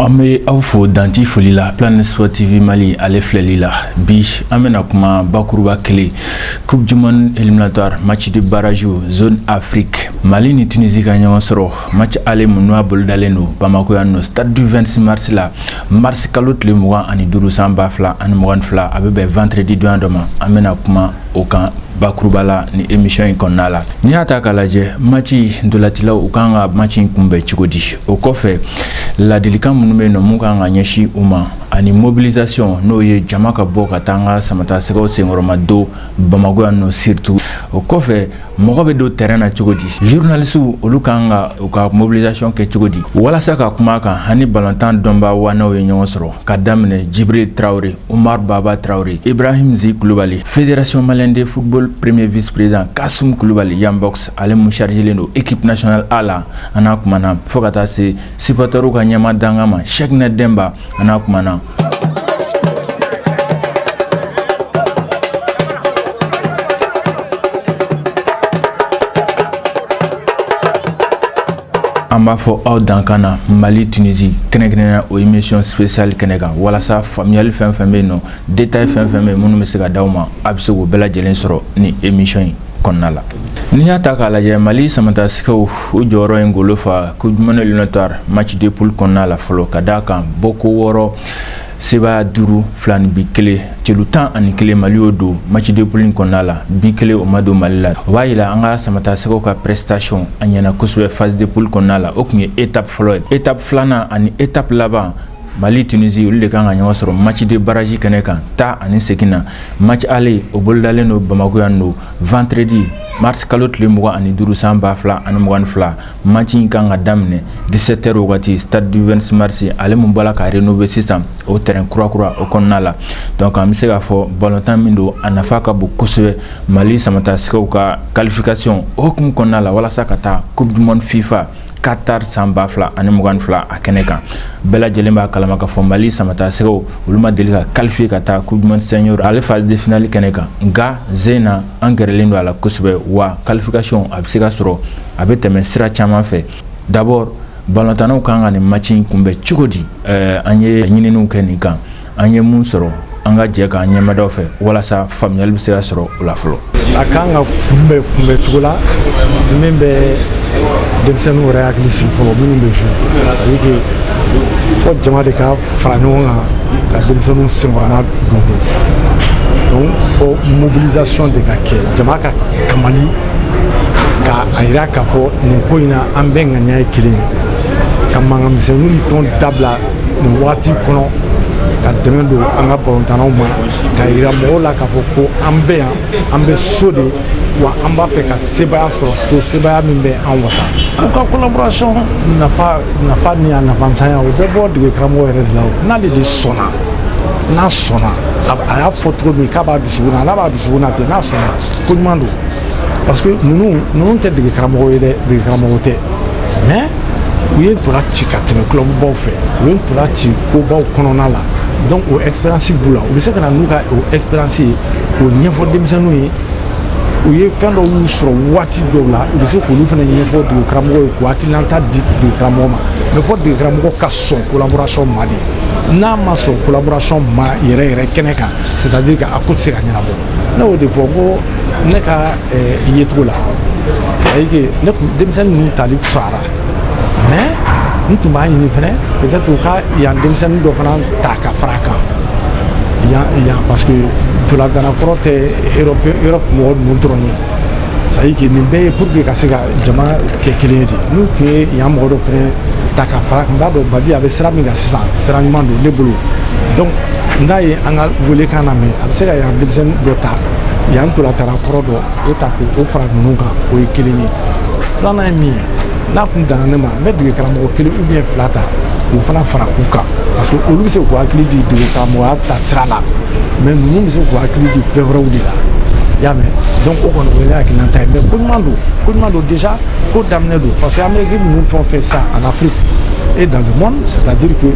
an bɛ aw fo danti foli la planète sport tv mali ale filɛlila bi an bɛna kuma bakuruba kelen coupe du monde éliminatoire match de barrage zone afrique mali ni tunisie ka ɲɔgɔn sɔrɔ match aller mun n'a bolodalen don bamako yan nɔ stade du 26 mars la marisi kalo tile mugan ani duuru san ba fila ani mugan ni fila a bɛ bɛn vendredi donya dɔ ma an bɛna kuma o kan bakuruba la ni emisiyɔn in kɔnɔna la n'i y'a ta k'a lajɛ mati ntolatilaw u kan ka mati in kunbɛn cogo di o kɔfɛ ladilikan minnu bɛ yen nɔ mun kan ka ɲɛsin u ma ani mobilisation n'o ye jama ka bɔ ka taa an ka samata sɛgɛw senkɔrɔma don bamakɔ yan nɔ surtout o kɔfɛ mɔgɔ bɛ don tɛrɛn na cogo di zurunalisiw olu kan ka u ka mobilisation kɛ cogo di walasa ka kuma a kan an ni balontan dɔnbaa ŋanaw ye ɲɔgɔn sɔrɔ ka daminɛ jibiri tarawele umar baba tarawele ibrahim zi kulubali fédération malienne de football premier vice président kasum kulubali yambox ale mun chargelen don équipe nationale a la an n'a kumana fo ka taa se Supporterw ka ɲɛmaa dankan ma sɛkina denba an n'a kumana an b'a fɔ aw dankan na mali tunisi kɛrɛnkɛrɛnnenya o emisiyɔn spéciale kɛnɛ kan walasa faamuyali fɛn fɛn bɛ yen nɔ détail fɛn fɛn bɛ minnu bɛ se ka d'aw ma a bɛ se k'o bɛɛ lajɛlen sɔrɔ ni emisiyɔn in kɔnɔna la n'i y'a ta k'a lajɛ mali samatasɛgɛw u jɔyɔrɔ in golo fa coupe du monde éliminatoire match de poule kɔnɔna la fɔlɔ ka d'a kan bɔko wɔɔrɔ sebaya duuru filaninbin kelen celu tan ani kelen mali y'o don match de poule kɔnɔna la bi kelen o ma don mali la o b'a yira an ka samatasɛgɛw ka prestation a ɲɛna kosɛbɛ phase de poule kɔnɔna la o tun ye etape fɔlɔ ye etape filanan ani etape laban Mali tunisi olu de kan ka ɲɔgɔn sɔrɔ mati de baraji kɛnɛ kan taa ani segin na mati aller o bolodalen don bamakɔ yan nɔ vendredi marisi kalo tile mugan ani duuru san ba fila ani mugan ni fila maci in kan ka daminɛ dix-sept heures wagati stade du 26 mars ale min bɔra ka rénover sisan o terrain kurakura o kɔnɔna la dɔnku an bɛ se k'a fɔ balontan min don a nafa ka bon kosɛbɛ mali samatasɛgɛw ka kalifikasiyɔn o hukumu kɔnɔna la walasa ka taa coupe du monde fifa katari san ba fila ani mugan ni fila a kɛnɛ kan bɛɛ lajɛlen b'a kalama k'a fɔ mali samata sɛgɛw olu ma deli ka kalifiye ka taa coupe du monde senior ale phase de finale kɛnɛ kan nka sen in na an gɛrɛlen don a la kosɛbɛ wa kalifikasiyɔn a bɛ se ka sɔrɔ a bɛ tɛmɛ sira caman fɛ d'abord balontannaw kan ka nin maci kunbɛn cogo di an ye ɲininiw kɛ nin kan an ye mun sɔrɔ an ka jɛ k'an ɲɛmadaw fɛ walasa faamuyali bɛ se ka sɔrɔ o la fɔlɔ a kan ka kunbɛ kunbɛ cogo la min bɛ denmisɛnninw yɛrɛ hakili sigi fɔlɔ minnu bɛ jouer c'est à dire que fɔ jama de ka fara ɲɔgɔn kan ka denmisɛnninw senkɔrɔmadon donc fɔ mobilisation de ka kɛ jama ka kamali ka a yira k'a fɔ nin ko in na an bɛɛ ŋaniya ye kelen ye ka mankan misɛnninw ni fɛnw dabila nin waati kɔnɔ ka dɛmɛ don an ka balontannaw ma ka yira mɔgɔw la k'a fɔ ko an bɛ yan an bɛ so de wa an b'a fɛ ka sebaaya sɔrɔ so sebaaya min bɛ an wasa u ka collaboration nafa ni a nafantanya o bɛ bɔ dege karamɔgɔ yɛrɛ de la n'ale de sɔnna n'a sɔnna a y'a fɔ cogo min k'a b'a dusukun na n'a b'a dusukun na ten n'a sɔnna ko ɲuman don parce que ninnu ninnu tɛ dege karamɔgɔ ye dɛ dege karamɔgɔ tɛ mais u ye ntola ci ka tɛmɛ clubbaw fɛ u ye ntola ci kobaw kɔnɔna la donc o expérience b'u la u bɛ se ka na n'u ka o expérience ye k'o ɲɛfɔ denmisɛnninw ye u ye fɛn dɔw y'u sɔrɔ waati dɔw la u bɛ se k'olu fana ɲɛfɔ dege karamɔgɔ ye k'u hakilinata di dege karamɔgɔ ma mais fɔ dege karamɔgɔ ka sɔn collaboration ma de n'a ma sɔn collaboration ma yɛrɛ yɛrɛ kɛnɛ kan c'est à dire que a ko tɛ se ka ɲɛnabɔ ne y'o de fɔ n ko ne ka yecogo la c'est à dire que ne kun denmisɛnnin ninnu tali fisayara mais n tun b'a ɲini fana peut-être u ka yan denmisɛnnin dɔ fana ta ka fara kan yan yan parce que ntolatana kɔrɔ tɛ europe europe mɔgɔ ninnu dɔrɔn ye c'est à dire que nin bɛɛ ye pour que ka se ka jama kɛ kelen ye de n'u tun ye yan mɔgɔ dɔ fana ta ka fara kan n b'a dɔn babi a bɛ sira min kan sisan sira ɲuman don ne bolo donc n'a ye an ka welekan lamɛn a bɛ se ka yan denmisɛnnin dɔ ta yan ntolatana kɔrɔ dɔ o ta k'o fara ninnu kan o ye kelen ye filanan ye min ye n'a kun danna ne ma n bɛ dege karamɔgɔ kelen ou bien fila ta k'u fana fara u kan parce que olu bɛ se k'u hakili di dege karamɔgɔya ta sira la mais ninnu bɛ se k'u hakili di fɛn wɛrɛw de la i y'a mɛn donc o kɔni o ye ne hakilinata ye mais ko ɲuman don ko ɲuman don déjà ko daminɛ don parce que an bɛ équipe ninnu fɛn o fɛn sisan en afrique et dans le monde c'est à dire que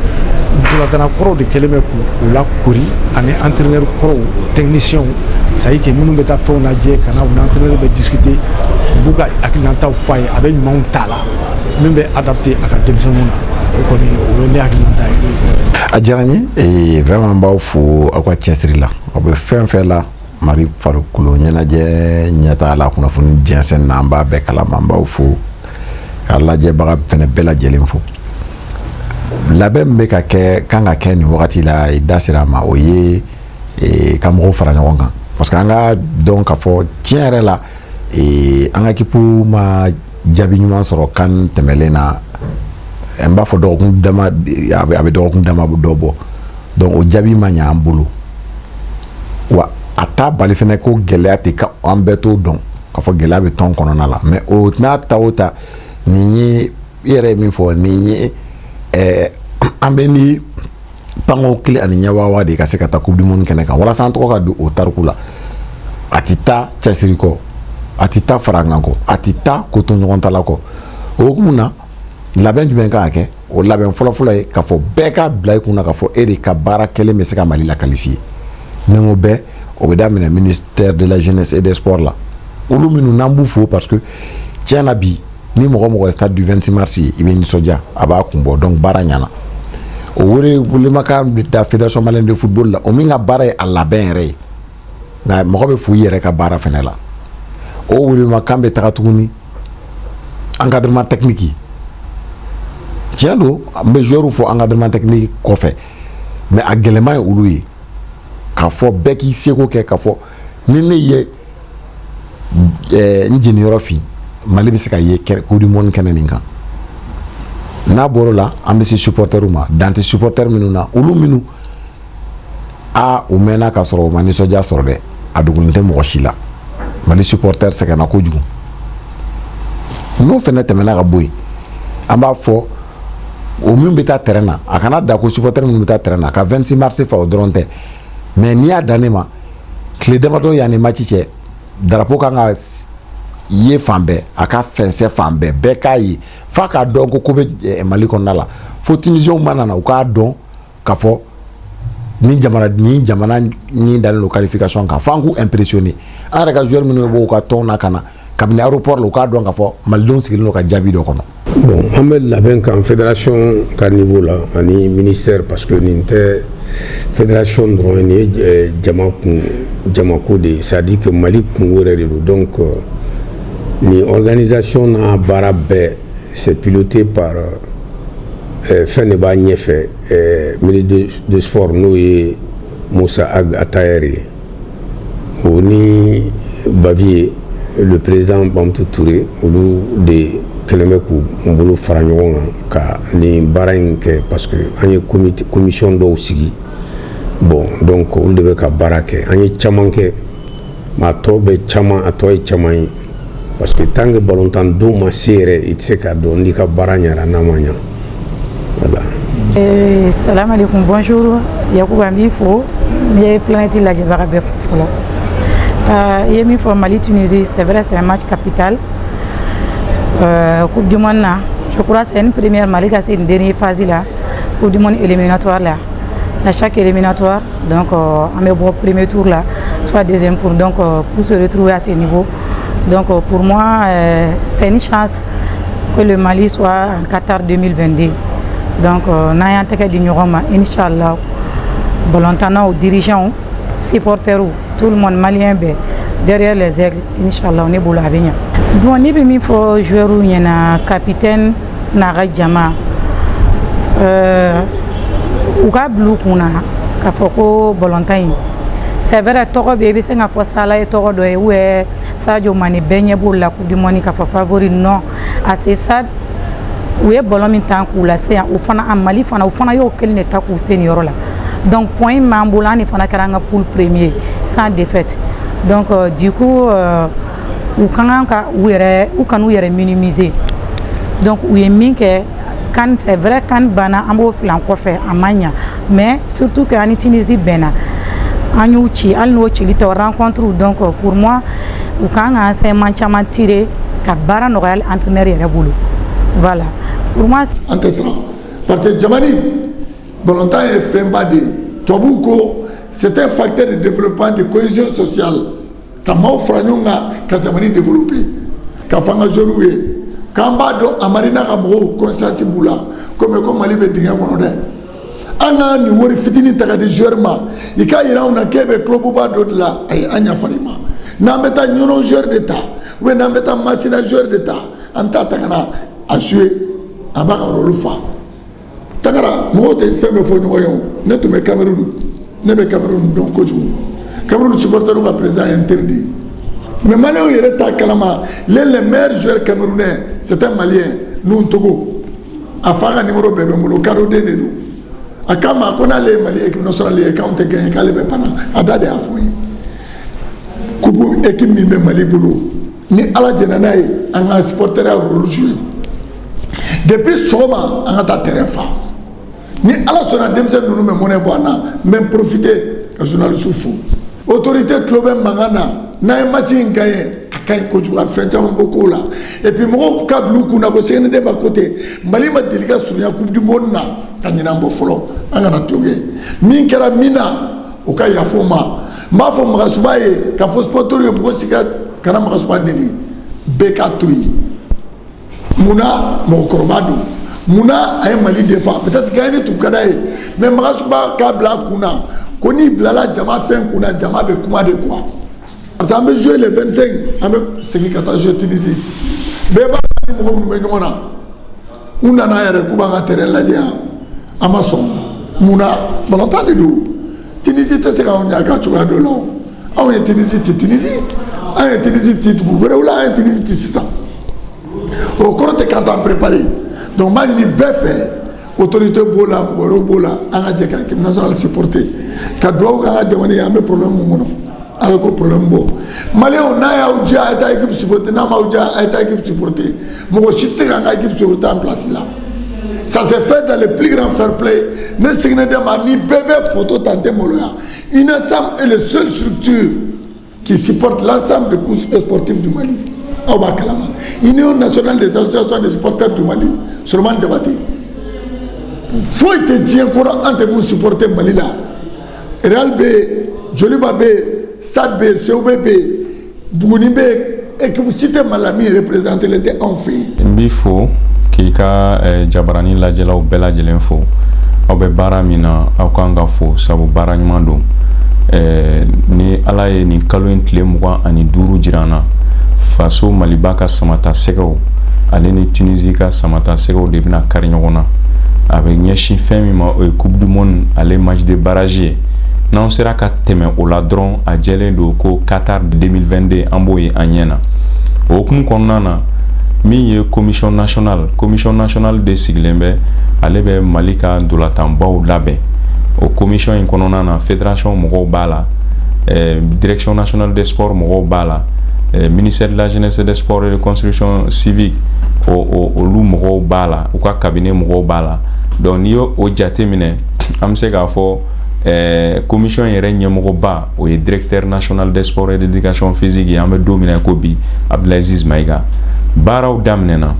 ntolatana kɔrɔw de kɛlen bɛ u lakori ani entraîneur kɔrɔw techniciens c'est à dire que minnu bɛ taa fɛnw lajɛ ka na u ni entraîneur bɛ discuter u b'u ka hakilinataw fɔ a ye a bɛ ɲumanw ta a la min bɛ adapter a ka denmisɛnninw na o kɔni o ye ne hakilinata ye. a diyara n ye vraiment n b'aw fo aw ka cɛsiri la aw bɛ fɛn fɛn la mali farikolo ɲɛnajɛ ɲɛtaa la kunnafoni jɛnsɛn na an b'a bɛɛ kalama n b'aw fo ka lajɛbaga fɛnɛ bɛɛ lajɛlen fo labɛn min bɛ ka kɛ kan ka kɛ nin wagati la i da sera a ma o ye e, ka mɔgɔw fara ɲɔgɔn kan parce que an k'a dɔn k'a fɔ tiɲɛ yɛrɛ la e, an ka équipe ma jaabi ɲuman sɔrɔ can tɛmɛlen na n b'a fɔ dɔgɔkun dama a bɛ dɔgɔkun dama dɔ bɔ donc o jaabi ma ɲɛ an bolo wa a t'a bali fɛnɛ ko gɛlɛya tɛ ka an bɛɛ t'o dɔn k'a fɔ gɛlɛya bɛ tɔn kɔnɔna la mais o n'a ta o ta nin ye i yɛrɛ ye min fɔ nin ye ɛɛ an bɛ ni panko kelen ani ɲɛwawa de ka se ka taa coupe du monde kɛnɛ kan walasa an tɔgɔ ka don o tariku la a tɛ taa cɛsiri kɔ a tɛ taa farankan kɔ a tɛ taa ko to ɲɔgɔn ta la kɔ o hukumu na labɛn jumɛn kan ka kɛ o labɛn fɔlɔfɔlɔ ye k'a fɔ bɛɛ k'a bila i kun na k'a fɔ e de ka baara kɛlen bɛ se ka mali la qualifier ni n ko bɛɛ o bɛ daminɛ ministère de la jeunesse et des sports la olu minnu n'an b'u fo parce que tiɲɛ na bi ni mɔgɔ o mɔgɔ ye stade du 26 mars ye i bɛ nisɔndiya a b'a kun bɔ donc baara ɲɛna o wele welemakan bɛ taa fédération malienne de football la o min ka baara ye a labɛn yɛrɛ ye nka mɔgɔ bɛ fo i yɛrɛ ka baara fɛnɛ la o welemakan bɛ taga tuguni encadrement technique tiɲɛ don n bɛ joueurw fɔ encadrement technique kɔfɛ mais a gɛlɛman ye olu ye k'a fɔ bɛɛ k'i seko kɛ k'a fɔ ni ne ye n jeniyɔrɔ fin mali bɛ se ka ye coupe du monde kɛnɛ nin kan n'a bɔr'o la an bɛ se supporter ma dan tɛ supporter minnu na olu minnu aa u mɛnna ka sɔrɔ u ma nisɔndiya sɔrɔ dɛ a dogolen tɛ mɔgɔ si la mali supporter sɛgɛnna kojugu n'o fana tɛmɛna ka bɔ yen an b'a fɔ o min bɛ taa terrain na a kana da ko supporter minnu bɛ taa terrain na ka 26 mars fa o dɔrɔn tɛ mais n'i y'a dan ne ma tile damadɔ yanni match cɛ drapeau kan ka ye fan bɛɛ a ka fɛnsɛ fan bɛɛ bɛɛ k'a ye f'a k'a dɔn ko ko bɛ eh, mali kɔnɔna la fo tunisienw mana na u k'a dɔn k'a fɔ ni jamana ni jamana ni dalen don qualification kan f'an k'u impressionner an yɛrɛ ka joueur minnu bɛ bɔ u ka tɔn na ka na kabini aéroport la u k'a dɔn k'a fɔ malidenw sigilen don ka jaabi dɔ kɔnɔ. bon an bɛ labɛn kan fédération ka niveau la ani ministère parce que nin tɛ fédération dɔrɔn ye nin ye eh, jama kun jamako de ye c'est à dire que mali kunko yɛrɛ de don donc euh, nin organisation n'a baara bɛɛ c'est piloté par. Euh, fɛn de b'a ɲɛfɛ ministre de sport n'o ye musa ag atayɛri ye o ni Bavieux le président bamutu ture olu de kɛlen bɛ k'u bolo fara ɲɔgɔn kan ka nin baara in kɛ parce que an ye commission dɔw sigi bon donc olu de bɛ ka baara kɛ an ye caman kɛ Mais a tɔ bɛ caman a tɔ ye caman ye parce que tant que balontan don ma se yɛrɛ i tɛ se k'a dɔn n'i ka baara ɲɛna n'a ma ɲa voilà. Eh, salam alaikum bonjour Yakuba n b'i fo n ye planète lajɛbaga bɛɛ fo fɔlɔ ah, i ye min fɔ Mali Tunisie c'est vrai c'est un match capital euh, coupe du monde na je crois c'est une première Mali ka se nin dernier phase la coupe du monde éliminatoire la à chaque éliminatoire donc euh, an bɛ bɔ premier tour la soit deuxième tour donc euh, pour se retrouver à ce niveau donc euh, pour moi c'est une chance que le Mali soit en Qatar 2022 donc n'an y'an tɛgɛ di ɲɔgɔn ma inchallah balontannaw dirigeants supporters tout le monde malien bɛɛ derrière les aigles inchallah ne bolo a bɛ ɲa bon ne bɛ min fɔ joueurs ɲɛna capitaine n'a ka jama euh, u ka bila u kun na k'a fɔ ko balontan in c'est vrai tɔgɔ bɛ i bɛ se k'a fɔ Salah ye tɔgɔ dɔ ye ou bien sadio mane bɛɛ ɲɛ b'o la coupe du monde k'a fɔ favori non à ce stade u ye balon min tan k'u lase yan o fana a mali fana u fana y'o kelen de tan k'u se nin yɔrɔ la donc point min b'an bolo an de fana kɛra an ka poule premier sans défaite donc euh, du coup euh, u ka kan ka u yɛrɛ u kan'u yɛrɛ minimiser donc u ye min kɛ CAN c'est vrai CAN banna an b'o filan kɔfɛ a man ɲa mais surtout que an ni Tunisie bɛnna an y'u ci hali n'o cili tɔ rencontre donc pour moi u kan ka enseignement caman tirer ka baara nɔgɔya entraîneur yɛrɛ bolo voilà pour moi an tɛ siran parce que jamani balontan ye fɛnba de ye tubabuw ko c'est un facteur de développement de cohésion sociale ka maaw fara ɲɔgɔn kan ka jamani développer k'a fɔ an ka joueurs ye k'an b'a dɔn Hamari n'a ka mɔgɔw conscience b'u la komi ko mali bɛ dingɛ kɔnɔ dɛ an ka nin wari fitinin ta k'a di joueur ma i k'a jira anw na k'e bɛ clubba dɔ de la ayi an yafara i ma n'an bɛ taa ɲɔnɔ joueur de ta ou bien n'an bɛ taa masina joueur de ta an bɛ taa ta ka na a jouer a b'a ka rôle fa Tangara mɔgɔw tɛ fɛn bɛɛ fɔ ɲɔgɔn ye ne tun bɛ Cameroun ne bɛ Cameroun dɔn kojugu Cameroun supporters ka président ye n teri de ye mais Maliens yɛrɛ t'a kalama le le meilleur joueur camerounais c'est un Malien Togo a fa ka numéro bɛɛ bɛ n bolo kadɔ den de don a ko n ma ko n'ale ye mali ye sɔrɔli ye' tɛ gagner k'ale bɛ pan a da de y'a fɔ n ye ko équipe min bɛ mali bolo ni ala jɛnna n'a ye an ka supporter ya rôle jouer depuis sɔgɔma an ka taa terrain fa ni ala sɔnna denmisɛn ninnu bɛ mɔnɛ bɔ an na n bɛ profiter ka journaliste fo autorité tulo bɛ mankan na n'an ye match in gagner a ka ɲi kojugu a fɛn caman bɔ kow la et puis mɔgɔw k'a bila u kun na ko CND ma ko ten Mali ma deli ka surunya coupe du monde na ka ɲinan bɔ fɔlɔ an kana tulonkɛ min kɛra min na o ka yaf'o ma n b'a fɔ magasuba ye k'a fɔ supporter ye mɔgɔ si ka kana magasuba neni bɛɛ k'a to yen mun na mɔgɔkɔrɔba don mun na a ye mali défendre peut-être gagner tun ka d'a ye mais magasuba k'a bila a kun na ko n'i bilala jama fɛn kun na jama bɛ kuma de quoi parce que an bɛ jouer le 25 an bɛ segin ka taa jouer Tunisie bɛɛ b'a dɔn an ni mɔgɔ minnu bɛ ɲɔgɔn na u nana yɛrɛ k'u b'an ka terrain lajɛ yan an ma sɔn mun na balontan de don Tunisie tɛ se k'anw ɲaga cogoya dɔ la o anw ye Tunisie ti Tunisie an ye Tunisie ti dugu wɛrɛw la an ye Tunisie ti sisan o kɔrɔ tɛ k'an t'an préparer donc n b'a ɲini bɛɛ fɛ autorité b'o la mɔgɔ wɛrɛw b'o la an ka jɛ ka équipe nationale supporter ka dugawu k'an ka jamana ye an bɛ problème min kɔnɔ a bɛ ko problème bɔ maliyɛnw n'a y'aw diya a ye taa équipe supporter n'a m'aw diya a ye taa équipe supporter mɔgɔ si tɛ se k'an ka équipe supporter an place la ça se fait dans le plus grand fair play ne sigilen tɛ ma ni bɛɛ bɛ photo ta n tɛ maloya UNASAM est le seul structure qui supporte l'ensemble des couches sportives du Mali aw b'a kalama union nationale des associations des supporters du Mali Solomani Jabate foyi tɛ diɲɛ kɔnɔ an tɛ min supporter Mali la Real bɛ yen Joliba bɛ yen stade bɛ yen COB bɛ yen Buguni bɛ yen équipe si tɛ mali la min représentélen tɛ anw fɛ yen n b'i fo k'i ka eh, jabaranin lajɛlaw bɛɛ lajɛlen fo aw bɛ baara min na aw kan ka fo sabu baara ɲuman don eh, ni ala ye nin kalo in tile mugan ani duuru jira an na faso maliba ka samatasɛgɛw ale ni Tunisie ka samatasɛgɛw de bɛna kari ɲɔgɔn na a bɛ ɲɛsin fɛn min ma o ye coupe du monde ale match de barrage ye n'anw sera ka tɛmɛ o la dɔrɔn a jɛlen don ko Qatar 2022 an b'o ye an ɲɛ na o hukumu kɔnɔna na min ye commission nationale commission nationale de sigilen bɛ ale bɛ Mali ka ntolatanbaw labɛn o commission in kɔnɔna na fédération mɔgɔw b'a la eh, direction nationale des sports mɔgɔw b'a la eh, ministère de la jeunesse et des sports et de construction civique olu mɔgɔw b'a la u ka cabinet mɔgɔw b'a la donc n'i y'o jate minɛ an bɛ se k'a fɔ Commission yɛrɛ ɲɛmɔgɔba o ye directeur national des sports et de l'éducation physique ye an bɛ don min na ko bi Abdelaziz Maïga baaraw daminɛna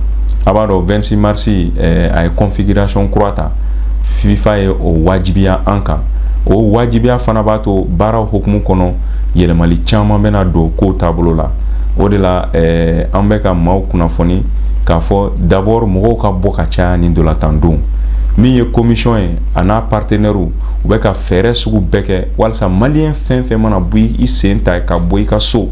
a b'a dɔn 26 mars a ye configuration kura ta fifa ye o wajibiya an kan o wajibiya fana b'a to baaraw hukumu kɔnɔ yɛlɛmali caman bɛna don kow taabolo la o de la an bɛ ka maaw kunnafoni k'a fɔ d'abord mɔgɔw ka bɔ ka caya ni ndolantan don min ye commission ye a n'a partenaires u bɛ ka fɛɛrɛ sugu bɛɛ kɛ walisa maliyɛn fɛn fɛn mana bɔ i sen ta ka bɔ i ka so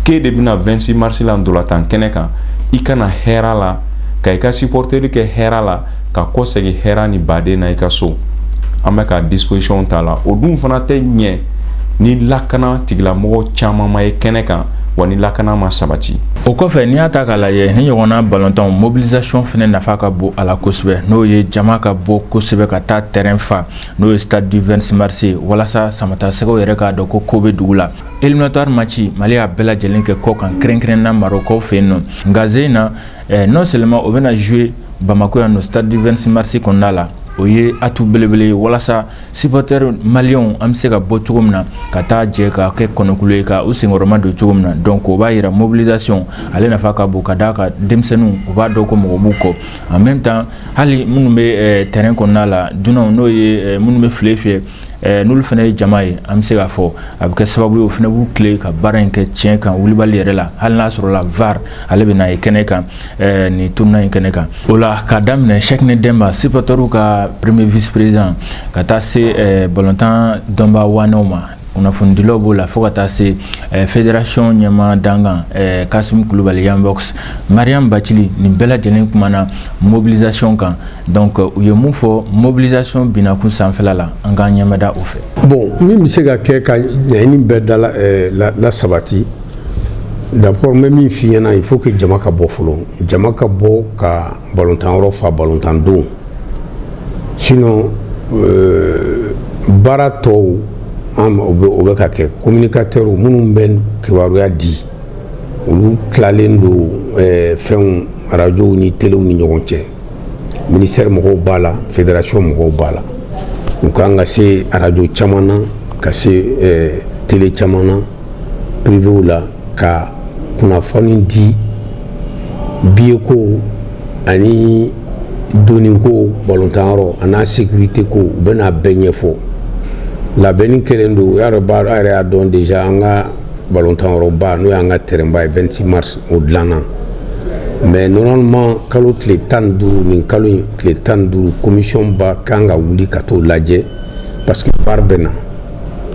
k'e de bɛna 26 mars la ndolantan kɛnɛ kan i ka na hɛra la ka i ka supporteri kɛ hɛra la ka kɔ segin hɛra ni baden na i ka so an bɛ ka disposition ta la o dun fana tɛ ɲɛ ni lakana tigilamɔgɔ caman ma ye kɛnɛ kan wa ni lakana ma sabati o kɔfɛ n'i y'a ta k'a lajɛ nin ɲɔgɔnna balontanw mobilisation fɛnɛ nafa ka bon a la kosɛbɛ n'o ye jama ka bɔ kosɛbɛ ka taa terrain fa n'o ye stade du 26 mars ye walasa samatasɛgɛw yɛrɛ k'a dɔn ko ko bɛ dugu la éliminatoire match mali y'a bɛɛ lajɛlen kɛ kɔ kan kɛrɛnkɛrɛnna marɔkaw fɛ yen nɔ nka jeu in na eh, non seulement o bɛna jouer bamako yan nɔ stade du 26 mars kɔnɔna la o ye atout belebele ye walasa Supporters maliens an bɛ se ka bɔ cogo min na ka taa jɛ ka kɛ kɔnɔkulu ye ka u senkɔrɔmadon cogo min na donc o b'a yira mobilisation ale nafa ka bon ka d'a kan denmisɛnninw u b'a dɔn ko mɔgɔ b'u kɔ en même temps hali minnu bɛ terrain kɔnɔna la dunanw n'o ye minnu bɛ file fiyɛ n'olu fana ye jama ye an bɛ se k'a fɔ a bɛ kɛ sababu ye o fana b'u tilen ka baara in kɛ tiɲɛ kan wulibali yɛrɛ la hali n'a sɔrɔ la VAR ale bɛna ye kɛnɛ kan ɛɛ nin tournoi in kɛnɛ kan o la k'a daminɛ Cheickné Demba sipɔtɛriw ka premier vice président ka taa se ɛɛ balontan dɔnbaa waanew ma kunnafonidilaw b'o la fo ka taa se eh, fédération ɲɛmaa dankan eh, kasim kulubali yambox mariam bacili nin bɛɛ lajɛlen kumana mobilisation kan donc u ye mun fɔ mobilisation binakun sanfɛla la an k'an ɲɛmada o fɛ bon min bɛ se ka kɛ ka ɲɛɲini bɛɛ dala eh, la, la sabati D'accord n bɛ min f'i ɲɛna il faut que jama ka bɔ fɔlɔ jama ka bɔ ka balontan yɔrɔ fa balontan don sinon euh, baara tɔw an o bɛ o bɛ ka kɛ communicateurs minnu bɛ kibaruya di olu tilalen don euh, fɛnw arajow ni telew ni ɲɔgɔn cɛ ministère mɔgɔw b'a la fédération mɔgɔw b'a la u kan ka se arajo caman na ka se euh, tele caman na privéw la ka kunnafoni di billet ko ani donni ko balontanyɔrɔ an'a sekirite ko u bɛna bɛɛ ɲɛfɔ labɛnni kɛlen don y'a dɔn a yɛrɛ y'a dɔn déjà an ka balontanyɔrɔba n'o y'an ka terrainba ye 26 mars o dilanna mais normalement kalo tile tan ni duuru nin kalo in tile tan ni duuru commission ba kan ka wuli ka t'o lajɛ parce que var bɛ na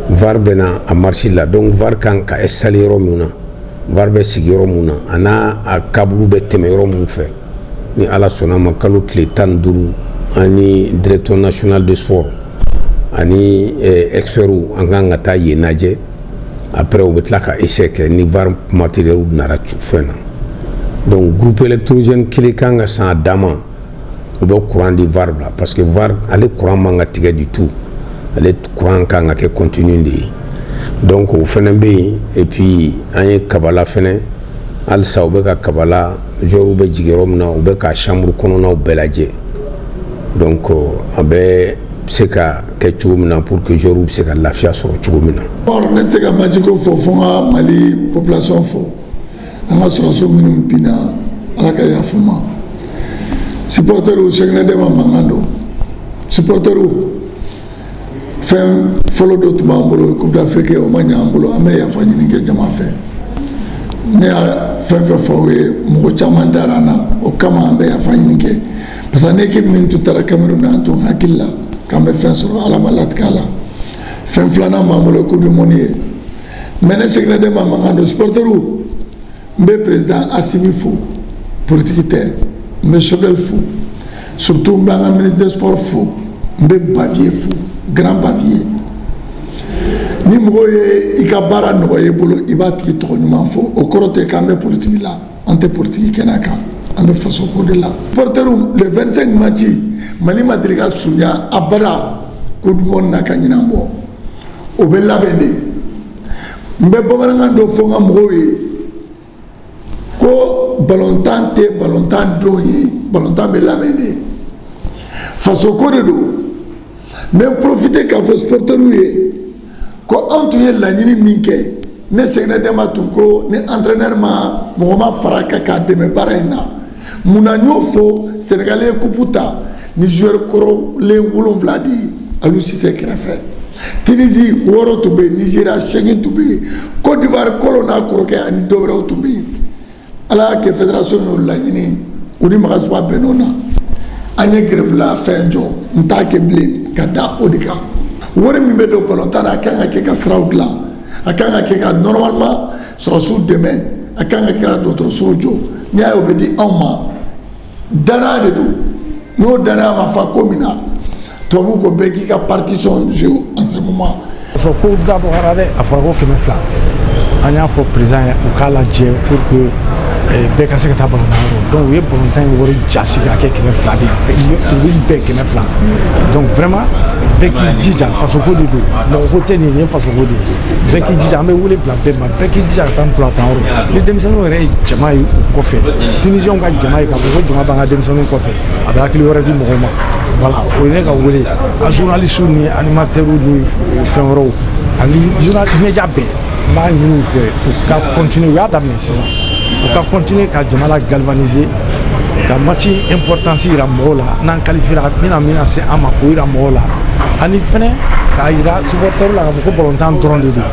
var bɛ na a marisi la donc var kan ka installer yɔrɔ min na var bɛ sigi yɔrɔ min na a n'a a câble bɛ tɛmɛ yɔrɔ min fɛ ni ala sɔnna ma kalo tile tan ni duuru ani directeur national de sport ani eh, experts an kan ka taa yen lajɛ après u bɛ tila ka essai kɛ ni var matériel nara fɛn na donc groupe électrogène kelen kan ka san a dama o bɛ kuran di var la parce que var ale kuran man ka tigɛ du tout ale kuran kan ka kɛ continu de ye donc o fana bɛ yen et puis an ye kabala fana halisa u bɛ ka kabala joueurs bɛ jigin yɔrɔ min na u bɛ ka chambre kɔnɔnaw bɛɛ lajɛ donc a bɛ se ka kɛ cogo min na pour que joueurs bɛ se ka lafiya sɔrɔ cogo min na. ne tɛ se ka match ko fɔ fo n ka mali population fo. an ka sɔrɔdasi minnu binna ala ka yafa u ma supporters Cheikhne Demba mankan don supporters fɛn fɔlɔ dɔ tun b'an bolo coupe d'afrique o ma ɲɛ an bolo an bɛ yafa ɲini kɛ jama fɛ ne y'a fɛn fɛn fɔ aw ye mɔgɔ caman dara an na o kama an bɛ yafa ɲini kɛ parce que l'équipe min tun taara cameroun na an tun hakili la k'an bɛ fɛn sɔrɔ ala ma latigɛ a la fɛn filanan b'an bolo coupe du monde ye mais ne Cheikhne Demba mankan don supɔrɔtɛriw n bɛ président Assimi fo politiki tɛ n bɛ Choguel fo surtout n bɛ an ka ministre des sports fo n bɛ Bavieux fo grand Bavieux ni mɔgɔ ye i ka baara nɔgɔya i bolo i b'a tigi tɔgɔ ɲuman fɔ o kɔrɔ tɛ k'an bɛ politiki la an tɛ politiki kɛnɛ kan an bɛ faso ko de la supporters le 25 match mali ma deli ka surunya abada coupe du monde na ka ɲinan bɔ o bɛ labɛn de n bɛ bamanankan dɔ fɔ n ka mɔgɔw ye ko balontan tɛ balontan don ye balontan bɛ labɛn de faso ko de don n bɛ profiter k'a fɔ supporters ye ko anw tun ye laɲini min kɛ ne Cheikhne Demba tun ko ni entraîneur ma mɔgɔ ma fara kan k'a dɛmɛ baara in na mun na n y'o fɔ Sénégal ye coupe ta ni joueur kɔrɔlen wolonwula de ye Aliou Cissé kɛrɛfɛ Tunisie wɔɔrɔ tun bɛ yen Nigéria seegin tun bɛ yen Côte d'Ivoire kolo n'a kɔrɔkɛ ani dɔ wɛrɛw tun bɛ yen ala y'a kɛ fédération y'o laɲini u ni Magasuba bɛnn'o na an ye grève la fɛn jɔ n t'a kɛ bilen ka da o de kan wari min bɛ don balontan na a kan ka kɛ ka siraw dilan a kan ka kɛ ka normalement sɔrɔsiw dɛmɛ a kan ka kɛ ka dɔgɔtɔrɔsow jɔ n'i y'a ye o bɛ di anw ma danaya de don n'o danaya ma fa ko min na tubabu ko bɛɛ k'i ka partition jouer en ce moment parce que ko dabɔra dɛ a fɔra ko kɛmɛ fila an y'a fɔ président ye u k'a lajɛ pour que eh, bɛɛ ka se ka taa balontan yɔrɔ donc u ye balontan ye wari jasi ka kɛ kɛmɛ fila de tribune bɛɛ kɛmɛ fila donc vraiment bɛɛ k'i jija fasoko de don mɔgɔ ko tɛ nin ye fasoko de ye bɛɛ k'i jija an bɛ wele bila bɛɛ ma bɛɛ k'i jija ka taa ntolatan yɔrɔ ni denmisɛnninw yɛrɛ ye jama ye u kɔfɛ tunisiɲɛw ka jama ye k'a fɔ ko jama b'an ka denmisɛnninw kɔfɛ a bɛ hakili wɛrɛ di mɔgɔw ma voilà o ye ne ka wele a journalistew ni animateurw ni fɛn wɛrɛw ani media bɛɛ n b'a ɲini u fɛ u ka continuer u y'a daminɛ sisan u ka continuer ka jama la galvaniser ka match importance yira mɔgɔw la n'an qualifiera bɛna min nase an ma k'o yira mɔgɔw la ani fɛnɛ k'a yira supporterw la k'a fɔ ko balontan dɔrɔn de don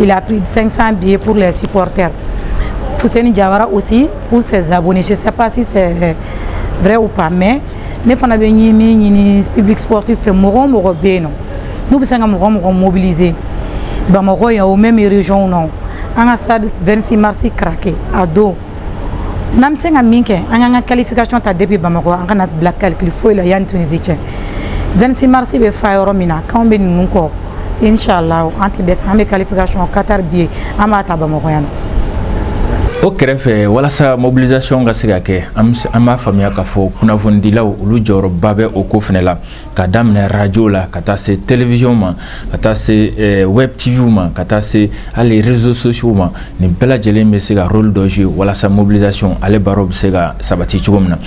Il a pris 500 billets pour les supporters. Fousseni Diawara aussi pour ses abonnés. Je ne sais pas si c'est vrai ou pas, mais ne fana bɛ ɲini min ɲini public sportif fɛ mɔgɔ o mɔgɔ bɛ yen nɔ n'u bɛ se ka mɔgɔ mɔgɔ mobiliser bamakɔ yan ou même région na an ka stade 26 mars craquer a don n'an bɛ se ka min kɛ an k'an ka qualification ta depuis bamakɔ an kana bila calcul foyi la yanni tunisi cɛ 26 mars bɛ fa yɔrɔ min na k'anw bɛ ninnu kɔ inshallah an tɛ dɛsɛ an bɛ qualification qatar billet an b'a ta bamakɔ yan nɔ o kɛrɛfɛ walasa mobilisation ka se ka kɛ an b'a faamuya k'a fɔ kunnafonidilaw olu jɔyɔrɔba bɛ o ko fɛnɛ la ka daminɛ radio la ka taa se télévision ma ka taa se eh, web tv ma ka taa se hali réseaux sociaux ma nin bɛɛ lajɛlen bɛ se ka rôle dɔ jouer walasa mobilisation ale baro bɛ se ka sabati cogo min na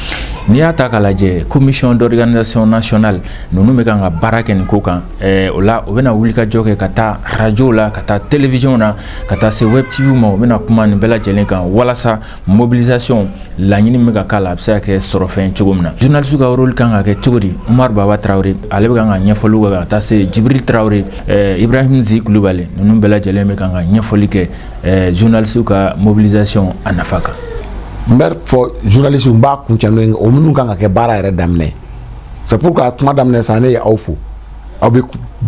n'i y'a ta k'a lajɛ commission d'organisation nationale ninnu bɛ kan ka baara kɛ nin ko kan eh, o la u bɛna wulikajɔ kɛ ka taa radio la ka taa télévision na ka taa se web tv ma u bɛna kuma nin bɛɛ lajɛlen kan walasa mobilisation laɲini bɛ ka k'a la a bɛ se ka kɛ sɔrɔ fɛn cogo min na journaliste ka rôle kan ka kɛ cogo di Umaru Baba Tarawele ale bɛ kan ka ɲɛfɔliw kɛ ka taa se Jibiri Tarawele ɛɛ Ibrahim Zi Kulubali ninnu bɛɛ lajɛlen bɛ kan ka ɲɛfɔli kɛ ɛɛ journaliste ka mobilisation a nafa kan. N bɛ fɔ journaliste n b'a kuncɛ n'o ye o minnu kan ka kɛ baara yɛrɛ daminɛ c'est pourquoi kuma daminɛ sa ne ye aw fo aw bɛ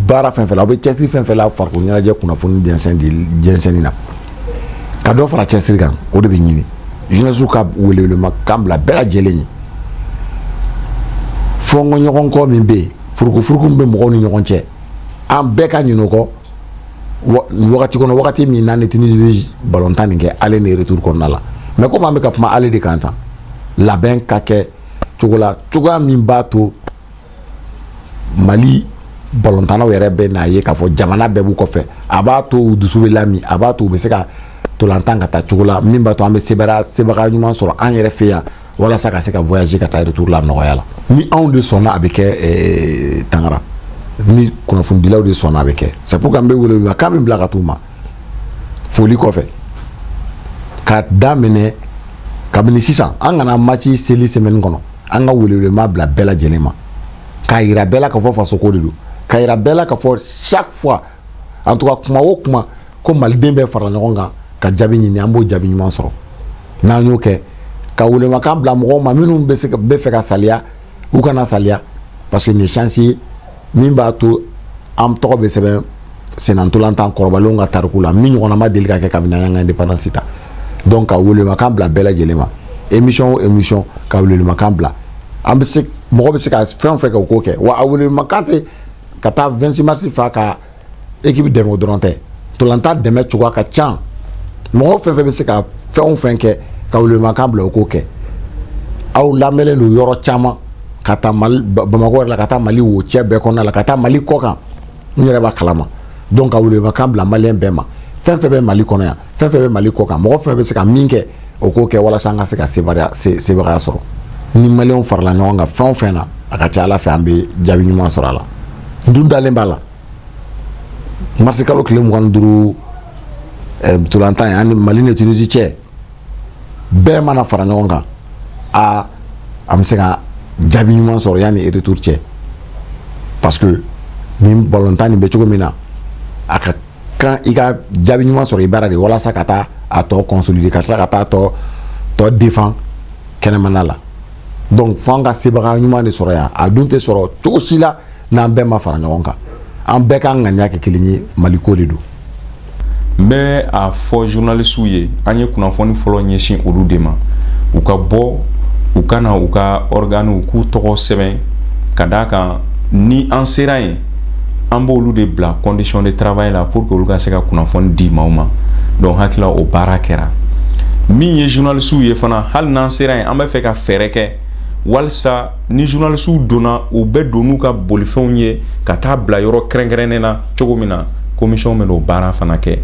baara fɛn fɛn la aw bɛ cɛsiri fɛn fɛn la farikolo ɲɛnajɛ kunnafoni jɛnsɛnni na. ka dɔ fara cɛsiri kan o de bɛ ɲini journaliste ka welewelema kan bila bɛɛ lajɛlen ye fɔɲɔgɔnkɔ min bɛ yen furukufuruku min bɛ mɔgɔw ni ɲɔgɔn cɛ an bɛɛ ka ɲinɛ o kɔ wagati kɔnɔ wagati min n'an ni tunisi bɛ balontan nin kɛ aller ni retour kɔnɔna la mais comme an bɛ ka kuma aller de kan tan labɛn ka kɛ cogo la cogoya min b'a to mali balontannaw yɛrɛ bɛ n'a ye k'a fɔ jamana bɛɛ b'u kɔfɛ a b'a to u dusu bɛ lami a b'a to u bɛ se ka tolantan ka taa cogo la min b'a to an bɛ sebaya sebaga ɲuman sɔrɔ an yɛrɛ fɛ yan walasa ka se ka voyager ka taa retour la nɔgɔya la ni anw de sɔnna a bɛ kɛ eh, tangara ni kunnafonidilaw de sɔnna a bɛ kɛ c'est pourquoi n bɛ welekan min bila ka t'u ma foli kɔfɛ ka daminɛ kabini sisan an kana match seli semaine kɔnɔ an ka welewelema bila bɛɛ lajɛlen ma k'a yira bɛɛ la k'a fɔ fasoko de don k'a yira bɛɛ la k'a fɔ chaque fois en tout cas kuma o kuma ko maliden bɛɛ fara ɲɔgɔn kan ka jaabi ɲini an b'o jaabi ɲuman sɔrɔ n'an y'o kɛ ka welemakan bila mɔgɔw ma minnu bɛ fɛ ka saliya u kana saliya parce que nin ye chance ye min b'a to an tɔgɔ bɛ sɛbɛn senantolantan kɔrɔbalenw ka tariku la min ɲɔgɔnna ma deli ka kɛ kabini an ka indépendance ta donc ka welemakan bila bɛɛ lajɛlen ma émission o émission ka welemakan bila an bɛ se mɔgɔ bɛ se ka fɛn o fɛn kɛ o k'o kɛ wa a welemakan tɛ ka taa 26 mars fa ka équipe dɛmɛ o dɔrɔn tɛ tolantan dɛmɛ cogoya ka ca mɔgɔ fɛn fɛn bɛ se ka fɛn o fɛn kɛ ka welemakan bila o k'o kɛ aw lamɛnlen don yɔrɔ caman ka taa bamakɔ yɛrɛ la ka taa mali wo cɛ bɛɛ kɔnɔna la ka taa mali kɔkan n yɛrɛ b'a kalama donc ka welemakan bila maliyɛn bɛɛ ma fɛn fɛn bɛ mali kɔnɔ yan fɛn fɛn bɛ mali kɔkan mɔgɔ fɛn bɛ se ka min kɛ o k'o kɛ walasa an ka se ka sebagaya sɔrɔ ni maliyɛnw farala ɲɔgɔn kan fɛn o fɛn na a ka ca ala fɛ an bɛ jaabi ɲuman sɔrɔ a la n dun dalen b'a la marisi kalo tile mugan ni duuru eh, ntolantan ye ani mali ni tunisi cɛ bɛɛ mana fara ɲɔgɔn kan a an bɛ se ka jaabi ɲuman sɔrɔ yanni retour cɛ parce que nin balontan nin bɛ cogo min na a ka kan i ka jaabi ɲuman sɔrɔ i bara de walasa ka taa a tɔ consolider ka tila ka taa tɔ tɔ défend kɛnɛmana la donc fo an ka sebaga ɲuman de sɔrɔ yan a dun tɛ sɔrɔ cogo si la n'an bɛɛ ma fara ɲɔgɔn kan an bɛɛ ka ŋaniya kɛ kelen ye maliko de don n bɛ a fɔ journalisiw ye an ye kunnafoni fɔlɔ ɲɛsin olu de ma u ka bɔ u ka na u ka ɔrganiw k'u tɔgɔ sɛbɛn ka d'a kan ni an sera yen an b'olu de bila condition de travail la pour que olu ka se ka kunnafoni di maaw ma donc hakili la o baara kɛra min ye journalistew ye fana hali n'an sera yen an bɛ fɛ ka fɛɛrɛ kɛ walisa ni journalistew donna u bɛ don n'u ka bolifɛnw ye ka taa bila yɔrɔ kɛrɛnkɛrɛnnen na cogo min na commission bɛn'o baara fana kɛ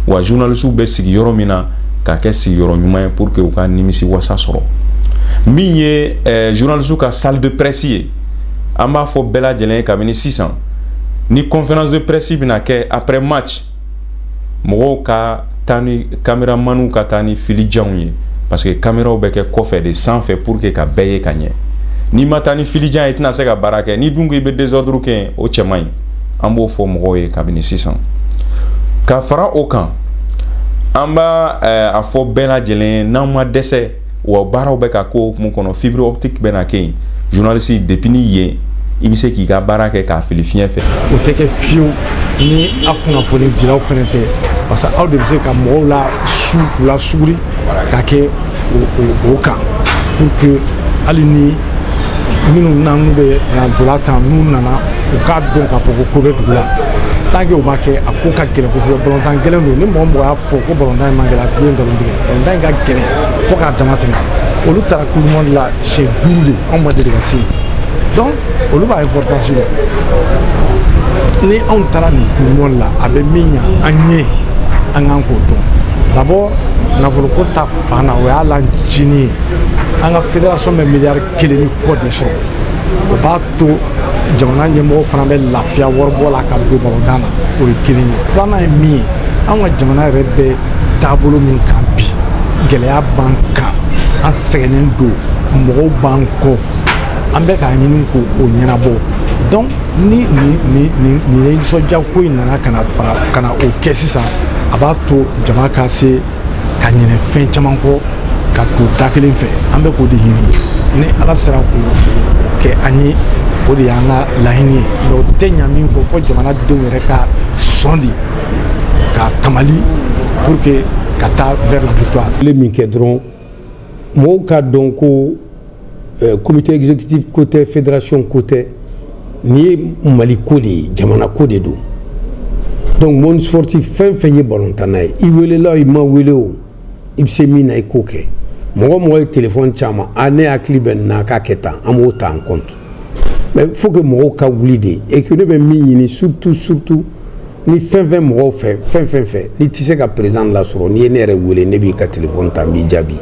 wa journalistew bɛ sigi yɔrɔ min na k'a kɛ sigiyɔrɔ ɲuman ye pour que u ka nimisiwasa sɔrɔ min ye zunlalisiw ka salidipresi ye an b'a fɔ bɛɛ lajɛlen ye kabini sisan ni conférence de presse bɛna kɛ après match mɔgɔw ka taa ni kameramaniw ka taa ni filijanw ye parce que kameraw bɛ kɛ kɔfɛ de sanfɛ pour que ka bɛɛ ye ka ɲɛ n'i ma taa ni filijan ye i tɛna se ka baara kɛ n'i dun ko i bɛ désordre kɛ o cɛ man ɲi an b'o fɔ mɔgɔw ye kabini sisan ka fara o kan an b'a eh, a fɔ bɛɛ lajɛlen ye n'an ma dɛsɛ wa baaraw bɛ ka k'o hukumu kɔnɔ fibre optique bɛna kɛ yen journaliste depuis ni yen i bɛ se k'i ka baara kɛ k'a fili fiɲɛ fɛ o tɛ kɛ fiyewu ni aw kunnafonidilaw fana tɛ parce que aw de bɛ se ka mɔgɔw lasu k'u lasuguri ka kɛ o kan pour que hali ni minnu bɛna n'u bɛ na ntolan tan n'u nana u k'a dɔn k'a fɔ ko ko bɛ dugu la tant que o ma kɛ a ko ka gɛlɛn kosɛbɛ balontan gɛlɛn don ni mɔgɔ mɔgɔ y'a fɔ ko balontan in man gɛlɛn a tigi ye nkalon tigɛ balontan in ka gɛlɛn fo k'a damatɛmɛ olu taara coupe du monde la siɲɛ duuru de anw ma deli ka se yen donc olu b'a importance dɔn ni anw taara nin coupe du monde la a bɛ min ɲa an ye an kan k'o dɔn d'abord nafoloko ta fan na o y'a lancini ye an ka fédération bɛ miliyari kelen ni kɔ de sɔrɔ o b'a to jamana ɲɛmɔgɔ fana bɛ lafiya waribɔ la ka don balontan na o ye kelen ye filanan ye min ye an ka jamana yɛrɛ bɛ taabolo min kan bi gɛlɛya b'an kan an sɛgɛnnen don mɔgɔw b'an kɔ an bɛ k'a ɲini k'o ɲɛnabɔ donc ni nin nin nin nin nisɔndiya ko in nana ka na fara ka na o kɛ sisan a b'a to jama ka se ka ɲinɛ fɛn caman kɔ ka to da kelen fɛ an bɛ k'o de ɲini ni ala sera k'o kɛ an ye o de y'an ka laɲini ye mais o tɛ ɲa min kɔ fo jamanadenw yɛrɛ ka sɔn de ka kamali pour que ka taa vers la victoire. Kile min kɛ dɔrɔn mɔgɔw k'a dɔn ko Euh, comité exécutif ko tɛ fédération ko tɛ nin ye mali ko de ye jamana ko de don donc monde sportif fɛn fɛn ye balontanna ye i welela i ma wele o i bɛ se min na i k'o kɛ mɔgɔ mɔgɔ ye telefɔni c'an ma a ne hakili bɛ nin na k'a kɛ tan an b'o ta en compte mais faut que mɔgɔw ka wuli de et que ne bɛ min ɲini surtout surtout ni fɛn fɛn mɔgɔw fɛ fɛn fɛn fɛ n'i tɛ se ka président lasɔrɔ n'i ye ne yɛrɛ wele ne b'i ka téléphone ta n b'i jaabi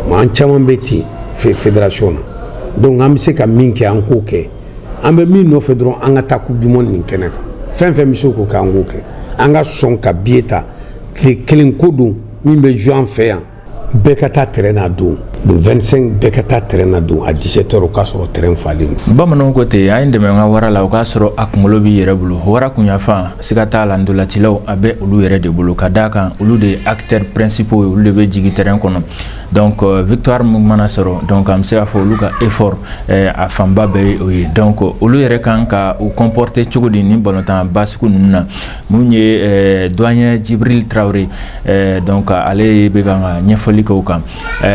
mais an caman bɛ ten fédération na donc an bɛ se ka min kɛ an k'o kɛ an bɛ min nɔfɛ dɔrɔn an ka taa coupe du monde nin kɛnɛ kan fɛn fɛn bɛ se k'o kɛ an k'o kɛ an ka sɔn ka billet ta tile kelen ko don min bɛ jouer an fɛ yan bɛɛ ka taa terrain na don le 25 bɛɛ ka taa terrain na don à 17 heures o k'a sɔrɔ terrain falen don bamananw ko ten a ye n dɛmɛ n ka wara la o k'a sɔrɔ a kunkolo b'i yɛrɛ bolo wara kunyafan siga t'a la ndolacilaw a bɛ olu yɛrɛ de bolo ka d'a kan olu de ye acteurs principaux ye olu de bɛ jigin terrain kɔnɔ donc euh, victoire min mana sɔrɔ donc an bɛ se k'a fɔ olu ka effort eh, a fanba bɛɛ ye o ye donc olu yɛrɛ kan ka u comporter cogo di nin balontanba sugu ninnu na mun ye doyen Djibril Traoré donc ale bɛ kan ka ɲɛfɔli k'o kan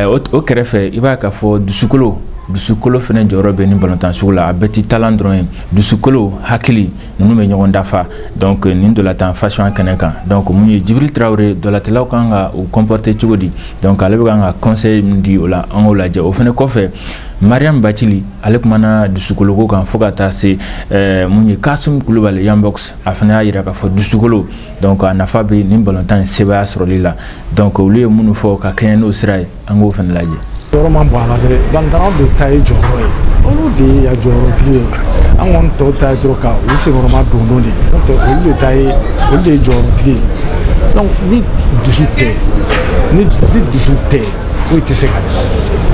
o kɛrɛfɛ i b'a k'a fɔ dusukolo dusukolo fana jɔyɔrɔ bɛ nin balontan sugu la a bɛɛ tɛ talent dɔrɔn ye dusukolo hakili ninnu bɛ ɲɔgɔn dafa nin ntolatan façon kɛnɛ kan donc mun ye Djibril Traoré ndolatilaw kan ka u comporter cogo di donc ale bɛ kan ka conseil min di o la an k'o lajɛ o fana kɔfɛ Mariam Bathily ale kumana dusukoloko kan fo ka taa se mun ye Kassoum Coulibaly Yambox a fana y'a yira k'a fɔ dusukolo donc a nafa bɛ nin balontan in sebaaya sɔrɔli la donc olu ye minnu fɔ ka kɛɲɛ n'o sira ye an k'o fana lajɛ jɔyɔrɔ man bon a la dɛ balontannaw de ta ye jɔyɔrɔ ye olu de ye a jɔyɔrɔtigi ye an kɔni tɔw ta ye dɔrɔn ka u senkɔrɔma don don de n'o tɛ olu de ta ye olu de ye jɔyɔrɔtigi ye donc ni dusu tɛ ni ni dusu tɛ foyi tɛ se ka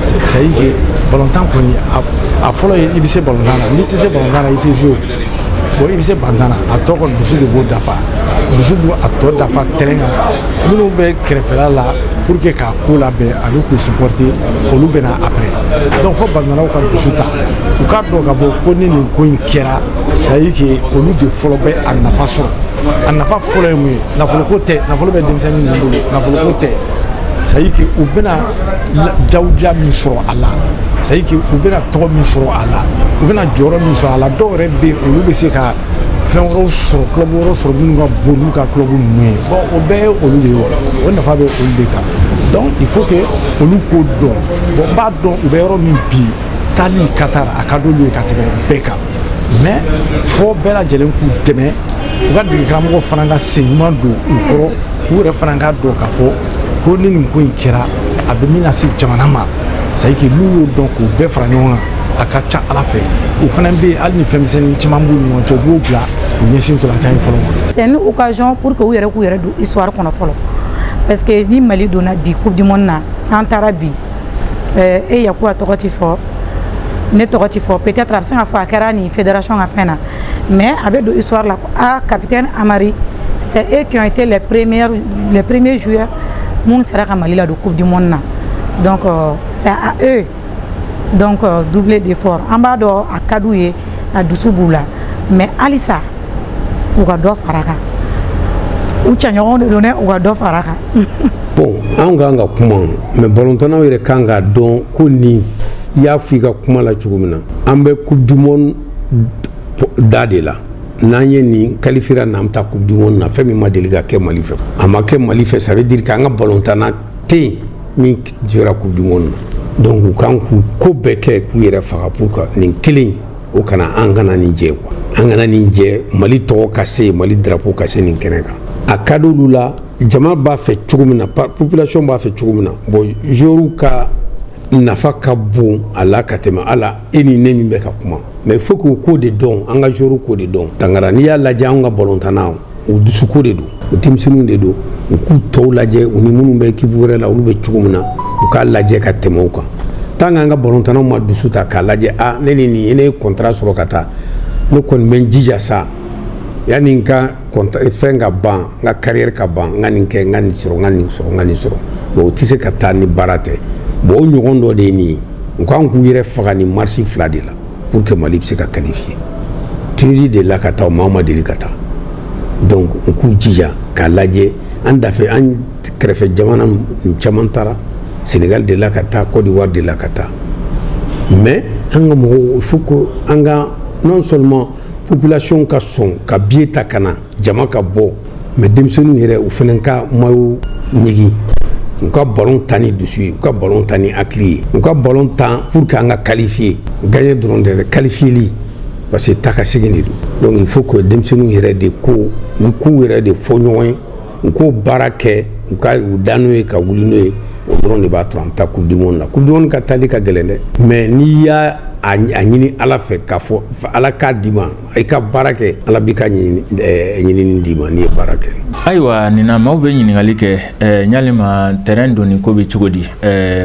c'est à dire que balontan kɔni a fɔlɔ ye i bɛ se balontan na n'i tɛ se balontan na i tɛ jouer bon i bɛ se balontan na a tɔ kɔni dusu de b'o dafa dusu b'o a tɔ dafa terrain kan minnu bɛ kɛrɛfɛla la pour que k'a ko labɛn ani k'u supporter olu bɛ na après donc fo balontannaw ka dusu ta u k'a dɔn k'a fɔ ko ni nin ko in kɛra c'est à dire que olu de fɔlɔ bɛ a nafa sɔrɔ a nafa fɔlɔ ye mun ye nafoloko tɛ nafolo bɛ denmisɛnnin ninnu bolo nafoloko tɛ c'est à dire que u bɛna jawuja min sɔrɔ a la c'est à dire que u bɛna tɔgɔ min sɔrɔ a la u bɛna jɔyɔrɔ min sɔrɔ a la dɔw yɛrɛ bɛ yen olu bɛ se ka fɛn wɛrɛw sɔrɔ club wɛrɛw sɔrɔ minnu ka bon n'u ka club ninnu ye bon o bɛɛ ye olu de ye wa o nafa bɛ olu de kan donc il faut que olu k'o dɔn bon n b'a dɔn u bɛ yɔrɔ min bi taali Qatar a ka d'olu ye ka tɛmɛ bɛɛ kan mais fo bɛɛ lajɛlen k'u dɛmɛ u ka degekaramɔgɔ fana ka sen ɲuman don u kɔrɔ u yɛrɛ fana k'a dɔn k'a fɔ ko ni nin ko in kɛra a bɛ min lase jamana ma c'est à dire que n'u y'o dɔn k'u bɛɛ fara ɲɔgɔn kan a ka ca ala fɛ u fana bɛ hali ni fɛnmisɛnnin caman b'u ni ɲɔgɔn cɛ u b'o bila u ɲɛsin ntolatan in fɔlɔ ma. c'est une occasion pour que u yɛrɛ k'u yɛrɛ don histoire kɔnɔ fɔlɔ parce que ni mali donna bi coupe du monde na an taara bi e yakuba tɔgɔ ti fɔ ne tɔgɔ ti fɔ peut-être a bɛ se ka fɔ a kɛra nin fédération ka fɛn na mais a bɛ don histoire la ah capitaine Amari c'est eux qui ont été les premiers joueurs minnu sera ka Mali ladon coupe du monde na donc c'est à eux donc doubler d'effort an b'a dɔn a ka d'u ye a dusu b'u la mais halisa u ka dɔ fara kan u cɛɲɔgɔnw de don dɛ u ka dɔ fara kan bon an kan ka kuma mais balontannaw yɛrɛ kan k'a dɔn ko nin i y'a fɔ i ka kuma la cogo min na an bɛ coupe du monde da de la n'an ye nin qualifier n'an taa coupe du monde na fɛn min ma deli ka kɛ Mali fɛ a ma kɛ Mali fɛ ça veut dire k'an ka balontanna tɛ yen min jɔra coupe du monde na donc u kan k'u ko bɛɛ kɛ k'u yɛrɛ faga pour que nin kelen o kana an kana nin jɛ quoi an kana nin jɛ Mali tɔgɔ ka se Mali drapeau ka se nin kɛnɛ kan a ka d'olu la jama b'a fɛ cogo min na population b'a fɛ cogo min na bon joueurs ka nafa ka bon a la ka tɛmɛ hali e ni ne min bɛ ka kuma mais il faut que u ko de don an ka joueurs ko de don tangara n'i y'a lajɛ anw ka balontanna u dusuko de don u denmisɛnninw de don u k'u tɔw lajɛ u ni minnu bɛ ekipu wɛrɛ la olu bɛ cogo min na u k'a lajɛ ka tɛmɛ u kan tant k'an ka balontannaw ma dusu ta k'a lajɛ ah, ne ni nin ne ye contrat sɔrɔ ka taa ne kɔni bɛ n jija sa yanni n ka fɛn ka ban n ka carrière ka ban n ka nin kɛ n ka nin sɔrɔ ka nin sɔrɔ ka nin sɔrɔ o tɛ se ka taa ni baara tɛ bon o ɲɔgɔn dɔ de ye nin ye u kan k'u yɛrɛ faga nin match fila de la pour que mali bɛ se ka qualifier tunisie delila ka taa maa ma deli ka taa donc u k'u jija k'a lajɛ an dafɛ an kɛrɛfɛ jamana caman taara sénégal delila ka taa côte d'ivoire delila ka taa mais an ka mɔgɔw il faut que an ka non seulement population ka sɔn ka biye ta ka na jama ka bɔ mais denmisɛnninw yɛrɛ u fana ka mayo ɲigin u ka balon tan ni dusu ye u ka balon tan ni hakili ye u ka balon tan pour que an ka qualifier gagner dɔrɔn tɛ qualifieli parce que taa ka segin de don donc il faut que denmisɛnninw yɛrɛ de ko u k'u yɛrɛ de fɔ ɲɔgɔn ye u k'o baara kɛ u ka u da n'o ye ka wuli n'o ye o dɔrɔn de b'a to an bɛ taa coupe du monde la coupe du monde ka taali ka gɛlɛn dɛ mais n'i y'a ɲini ala fɛ k'a fɔ ala k'a d'i ma i ka baara kɛ ala b'i ka ɲinini d'i ma n'i ye baara kɛ ayiwa nin na maaw bɛ ɲininkali kɛ yalima terrain donni ko bɛ cogo di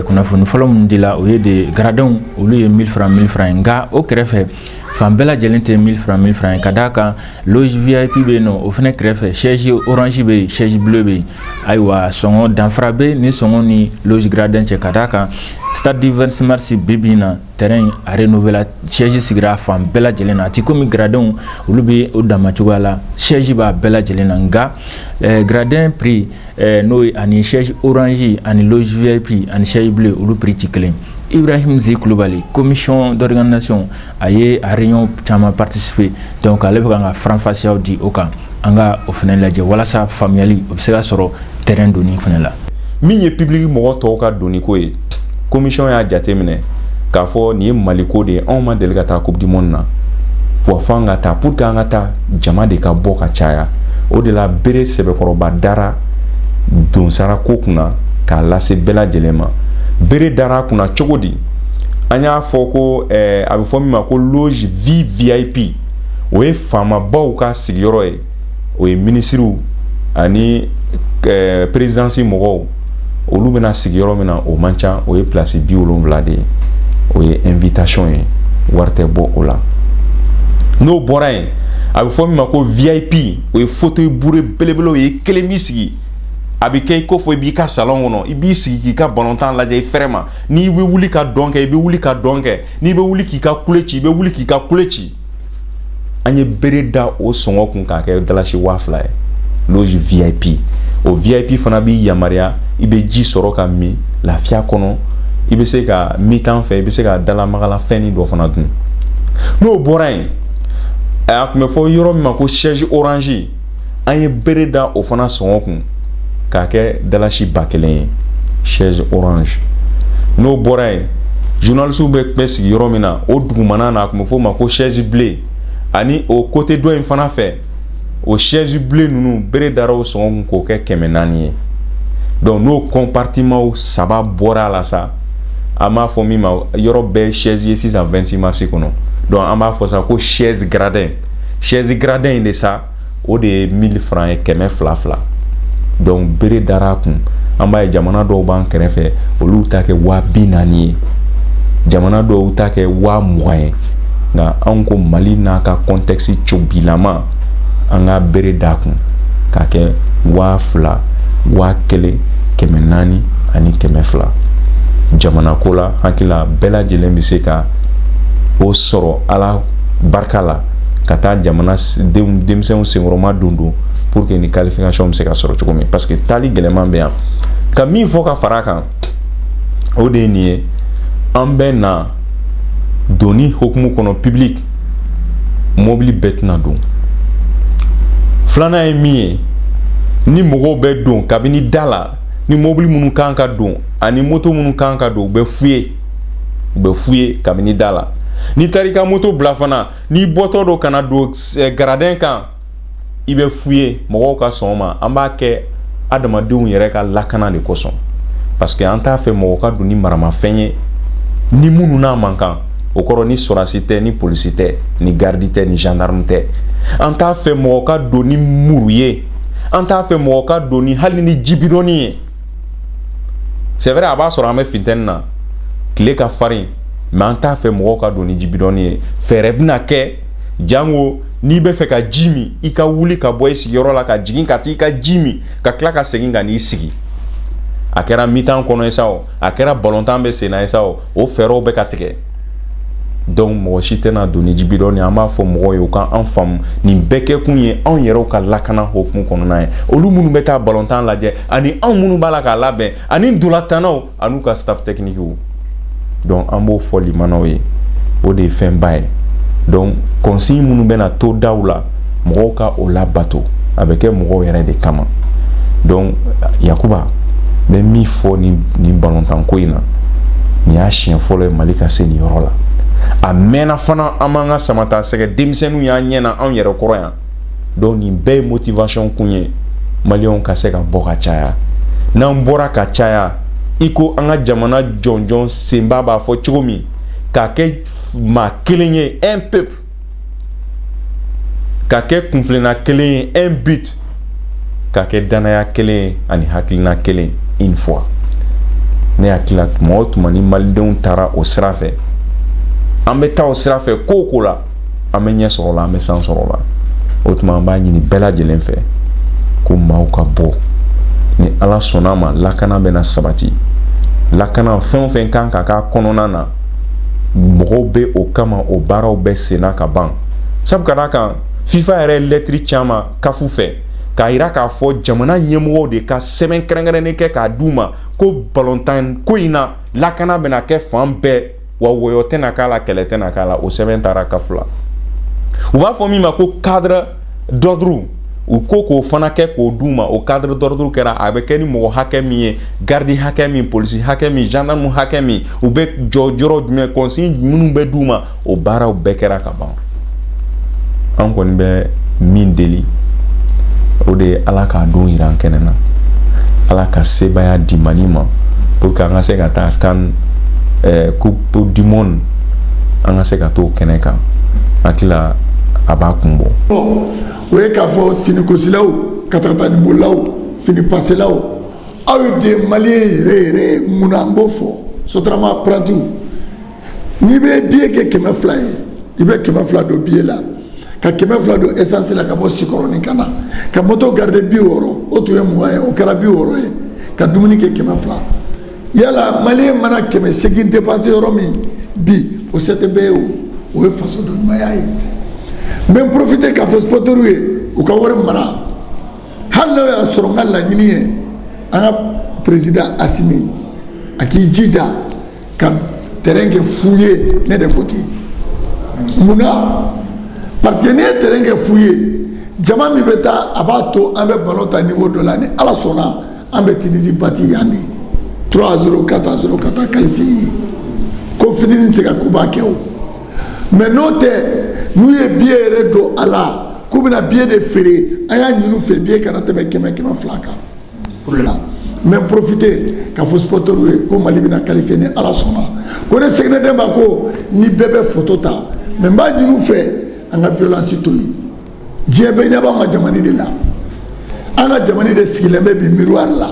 kunnafoni fɔlɔ min dila o ye de garadenw olu ye mille francs mille francs ye nka o kɛrɛfɛ fan bɛɛ lajɛlen tɛ mil fran mil fran ye ka d'a kan loge vip bɛ yen nɔ o fana kɛrɛfɛ chaise orange bɛ yen chaise bleu bɛ yen ayiwa sɔngɔ danfara bɛ ni sɔngɔ ni loge gradin cɛ ka d'a kan stade du 26 mars bi bi in na terrain in a renouvelera chaise sigira fan bɛɛ lajɛlen na a tɛ komi gradenw olu bɛ o dama cogoya la chaise b'a bɛɛ lajɛlen na nka eh, gradin prix n'o ye ani chaise orange ani loge vip ani chaise bleue olu prix tɛ kelen ibrahimu ze kulubali commission d'organisation a ye a réunion caman participer dɔnku ale bɛ ka faranfasiyaw di o kan an ka o fana lajɛ walasa faamuyali o bɛ se ka sɔrɔ terrain donni fana la min ye public mɔgɔ tɔw ka donko ye commission y'a jateminɛ k'a fɔ nin ye maliko de ye anw ma deli ka taa coupe du monde na wa fo an ka taa pour que an ka taa jama de ka bɔ ka caya o de la bere sɛbɛkɔrɔba dara donsara ko kunna k'a lase bɛɛ lajɛlen ma bere dara kunna cogo di an y'a fɔ ko eh, a bɛ fɔ min ma ko loge vvip o ye faamabaw ka sigiyɔrɔ ye o ye minisiriw ani eh, perezidansi mɔgɔw olu bɛna sigi yɔrɔ min na o man ca o ye pilasi bi wolonwula de ye o ye invitation ye wari tɛ bɔ o la n'o bɔra yen a bɛ fɔ min ma ko vip o ye fauteuil bourré belebele o ye i kelen b'i sigi a bɛ kɛ i ko fɔ i b'i ka salon kɔnɔ i b'i sigi k'i ka balontan lajɛ i fɛrɛ ma n'i bɛ wuli ka dɔn kɛ i bɛ wuli ka dɔn kɛ n'i bɛ wuli k'i ka kule ci i bɛ wuli k'i ka kule ci an ye bere da o sɔngɔ kun k'a kɛ dalasi waa fila ye loge vip o vip fana b'i yamaruya i bɛ ji sɔrɔ ka min lafiya kɔnɔ i bɛ se ka mi-temps fɛ i bɛ se ka dalamagala fɛnnin dɔ fana dun n'o bɔra yen a tun bɛ fɔ yɔrɔ min ma ko chaise orange an ye bere da o fana sɔngɔ kun k'a kɛ dalasi ba kelen ye chaise orange n'o bɔra yen journalistew bɛɛ bɛ sigi yɔrɔ min na o dugumana na a tun bɛ f'o ma ko chaise bleue ani o côté dɔ in fana fɛ o chaise bleue ninnu bere dara o sɔngɔ kun k'o kɛ kɛmɛ naani ye donc n'o compartimentw saba bɔra a la sa an b'a fɔ min ma yɔrɔ bɛɛ chaise ye sisan 26 mars kɔnɔ donc an b'a fɔ sa ko chaise gradin sɛzi gradin in de sa o de ye mili fran ye kɛmɛ fila fila dɔnku bere dara a kun an b'a ye jamana dɔw b'an kɛrɛfɛ olu ta kɛ waa bi naani ye jamana dɔw ta kɛ waa mugan ye nka anw ko mali n'a ka contexte cobilama an ka bere d'a kun k'a kɛ waa fila waa kelen kɛmɛ naani ani kɛmɛ fila jamana ko la hakili la bɛɛ lajɛlen bɛ se ka o sɔrɔ a la barika la ka taa jamana denmisɛnw senkɔrɔmadondon pour que ni qualification bɛ se ka sɔrɔ cogo min parce que taali gɛlɛman bɛ yan ka min fɔ ka fara kan o de ye nin ye an bɛ na donni hokumu kɔnɔ public mobili bɛɛ tɛna don filanan ye min ye ni mɔgɔw bɛ don kabini da la ni mobili minnu kan ka don ani moto minnu kan ka don u bɛ fouillé u bɛ fouillé kabini da la n'i taara i ka moto bila fana n'i bɔtɔ don ka na don eh, gradin kan i bɛ fouillé mɔgɔw ka sɔn o ma an b'a kɛ adamadenw yɛrɛ ka lakana de kosɔn parce que an t'a fɛ mɔgɔ ka don ni maramafɛn ye ni minnu n'a man kan o kɔrɔ ni sɔrasi tɛ ni polisi tɛ ni garidi tɛ ni gendarme tɛ an t'a fɛ mɔgɔ ka don ni muru ye an t'a fɛ mɔgɔ ka don ni hali ni jibidɔnnin ye c'est vrai a b'a sɔrɔ an bɛ funteni na tile ka farin mais an t'a fɛ mɔgɔw ka don ni jibidɔnnin ye fɛɛrɛ bɛna kɛ jango n'i b'a fɛ ka ji min i ka wuli ka bɔ i sigiyɔrɔ la ka jigin ka taa i ka ji min ka tila ka segin ka n'i sigi a kɛra mi-temps kɔnɔ ye sa o a kɛra balontan bɛ senna ye sa o o fɛɛrɛw bɛ ka tigɛ donc mɔgɔ si tɛna don ni jibidɔn ye an b'a fɔ mɔgɔw ye u ka an faamu nin bɛɛ kɛkun ye anw yɛrɛw ka lakana hokumu kɔnɔna ye olu minnu bɛ taa balontan lajɛ ani anw minnu b'a la k'a labɛn ani ntolatannaw an'u ka staff techniquew donc an b'o fɔ limanaw ye o de ye fɛnba ye donc consigne minnu bɛna to daw la mɔgɔw ka o labato a bɛ kɛ mɔgɔw yɛrɛ de kama donc yakuba n bɛ min fɔ nin nin balontanko in na nin y'a siɲɛ fɔlɔ ye mali ka se nin yɔrɔ la a mɛnna fana an m'an ka samatasɛgɛ denmisɛnninw y'an ɲɛ na anw yɛrɛ kɔrɔ yan donc nin bɛɛ ye motivation kun ye maliyɛnw ka se ka bɔ ka caya n'an bɔra ka caya i ko an ka jamana jɔnjɔn senba b'a fɔ cogo min k'a kɛ maa kelen ye un peuple ka kɛ kuntilenna kelen ye un but ka kɛ danaya kelen ye ani hakilina kelen une foi ne hakili la tuma o tuma ni malidenw taara o sira fɛ an bɛ taa o sira fɛ ko o ko la an bɛ ɲɛ sɔrɔ la an bɛ san sɔrɔ la o tuma an b'a ɲini bɛɛ lajɛlen fɛ ko maaw ka bɔ ni ala sɔnna ma lakana bɛna sabati lakana fɛn o fɛn kan ka k'a kɔnɔna na mɔgɔw bɛ o kama o baaraw bɛ senna ka ban sabu ka d'a kan fifa yɛrɛ ye lɛtiri c'an ma caf fɛ k'a jira k'a fɔ jamana ɲɛmɔgɔw de ka sɛbɛn kɛrɛnkɛrɛnnen kɛ k'a d'u ma ko balontan ko in na lakana bɛna kɛ fan bɛɛ wa wɔyɔ tɛna k'a la kɛlɛ tɛna k'a la o sɛbɛn taara kafu la u b'a fɔ min ma ko cadre d'ordre u ko k'o fana kɛ k'o d'u ma o cadre d'ordre kɛra a bɛ kɛ ni mɔgɔ hakɛ min ye gardi hakɛ min polisi hakɛ min gendarme hakɛ min u bɛ jɔ yɔrɔ jumɛn consigne minnu bɛ d'u ma o baaraw bɛɛ kɛra ka ban an kɔni bɛ min deli o de ye ala k'a don jira an kɛnɛ na ala ka sebaaya di Mali ma pour que an ka se ka taa kan eh, coupe du monde an ka se ka t'o kɛnɛ kan hakili la a b'a kun bɔ o ye k'a fɔ finikosilaw katakatanibolilaw finipaselaw aw ye de maliyɛn yɛrɛ yɛrɛ mun na n b'o fɔ sotarama parantiw n'i bɛ biye kɛ kɛmɛ fila ye i bɛ kɛmɛ fila don biye la ka kɛmɛ fila don esansi la ka bɔ sikɔrɔnin ka na ka moto garide bi wɔɔrɔ o tun ye mugan ye o kɛra bi wɔɔrɔ ye ka dumuni kɛ kɛmɛ fila yala maliyɛn mana kɛmɛ segin depanse yɔrɔ min bi o se tɛ bɛɛ ye o o ye fasoden ɲumanya ye n bɛ n porofite k'a fɔ sipɔtɛriw ye u ka wari mara hali n'o y'a sɔrɔ n ka laɲini ye an ka perezida asimi a k'i jija ka terrain kɛ fu ye ne de ko ten mun na parce que n'i ye terrain kɛ fu ye jama min bɛ taa a b'a to an bɛ ballon tan niveau dɔ la ni ala sɔnna an bɛ Tunisie bati yan de 3-0 4-0 ka taa qualifier yen ko fitini tɛ se ka koba kɛ o mais n'o tɛ n'u ye billet yɛrɛ don a la k'u bɛna billet de feere an y'a ɲini u fɛ billet kana tɛmɛ kɛmɛ kɛmɛ fila kan. mɛ porofite k'a fɔ supɔrɔtɛri ye ko mali bɛna kalifiye ni ala sɔnna ko ne seginna den ma ko ni bɛɛ bɛ foto ta mɛ n b'a ɲini u fɛ an ka violence to yen diɲɛ bɛɛ ɲɛ b'an ka jamana de la an ka jamana de sigilen bɛ bi miroir la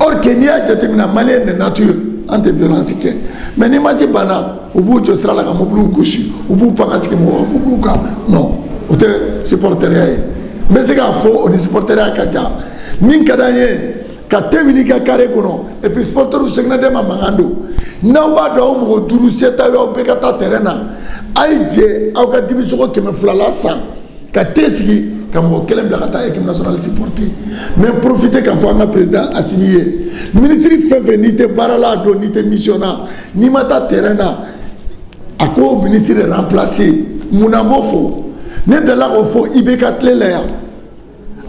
or que n'i y'a jateminɛ maliyɛn de nature an tɛ violence kɛ mɛ ni match banna u b'u jɔ sira la ka mobiliw gosi u b'u pan ka sigi mɔgɔ mobiliw kan non o tɛ supɔrɔtɛriya ye n bɛ se k'a fɔ o ni supɔrɔtɛriya ka jan min ka d'an ye ka te wuli ka kare kɔnɔ et puis supɔrɔtɛriw seginnaden ma mankan don n'aw b'a dɔn aw mɔgɔ duuru se t'aw ye aw bɛɛ ka taa tɛrɛn na a ye jɛ aw ka dibisogo kɛmɛ fila la san ka te sigi ka mɔgɔ kelen bila ka taa équipe nationale supporter mais profiter k'a fɔ an ka président Asimi ye minisiri fɛn fɛn n'i tɛ baara la a don n'i tɛ mission na n'i ma taa terrain na a k'o ministre de remplacer mun na n b'o fɔ ne delila k'o fɔ IBK tile la yan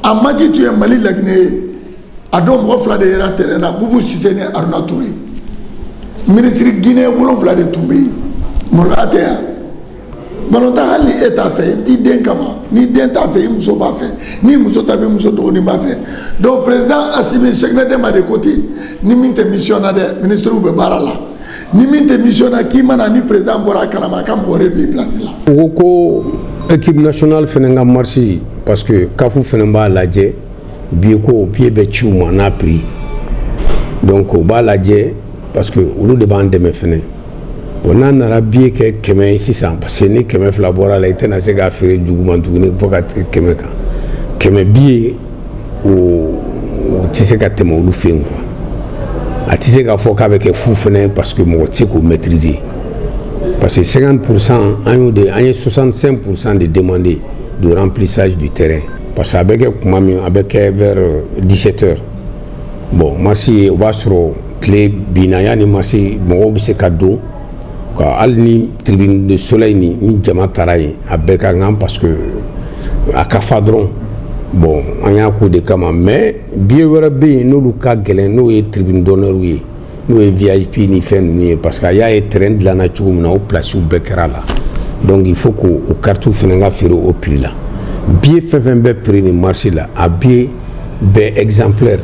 a match tun ye Mali laginɛ ye a don mɔgɔ fila de yera terrain na Bubu Sise ni Aruna Ture ministre Guinée wolonwula de tun bɛ yen maloya tɛ yan. tan hali e t'a fɛ i bɛ t'i den kama ni den t'a fɛ i muso b'a fɛ ni muso t'a fɛ muso dɔgɔnin b'a fɛ donc président Assimi Sɛkinɛ Dɛma de ko ten ni min tɛ mission na dɛ ministres bɛ baara la ni min tɛ mission na k'i mana ni président bɔra a kalama a ka mɔgɔ wɛrɛ bila i place la. U ko ko équipe nationale fana ka marche parce que CAF fana b'a lajɛ biye ko biye bɛ ci u ma n'a prix donc u b'a lajɛ parce que olu de b'an dɛmɛ fana. bon an nana biye kɛ kɛmɛ ye sisan parce que ni kɛmɛ fila bɔra la i tɛna se k'a feere juguman tuguni fo ka tigɛ kɛmɛ kan kɛmɛ biye o o tɛ se ka tɛmɛ olu fɛ yen quoi a tɛ se k'a fɔ k'a bɛ kɛ fu fana ye parce que mɔgɔ tɛ se k'o maîtriser parce que 50 pour cent an y'o de an ye 65 pour cent de demander de remplissage du terrain parce que a bɛ kɛ kuma min a bɛ kɛ vers 17 heures bon masi ye o b'a sɔrɔ tile binna yanni masi mɔgɔw bɛ se ka don ka hali ni tribune de soleil ni ni jama taara yen a bɛɛ ka kan parce que a ka fa dɔrɔn bon an y'a k'o de kama mais biye wɛrɛ bɛ yen n'olu ka gɛlɛn n'o ye tribune d'honneur ye n'o ye vip ni fɛn ninnu ye parce que a y'a ye terrain dilanna cogo min na o pilasiw bɛɛ kɛra a la donc il faut k'o o karitiw fana ka feere o prix la biye fɛn fɛn bɛ prix nin match la a biye bɛɛ exemplaire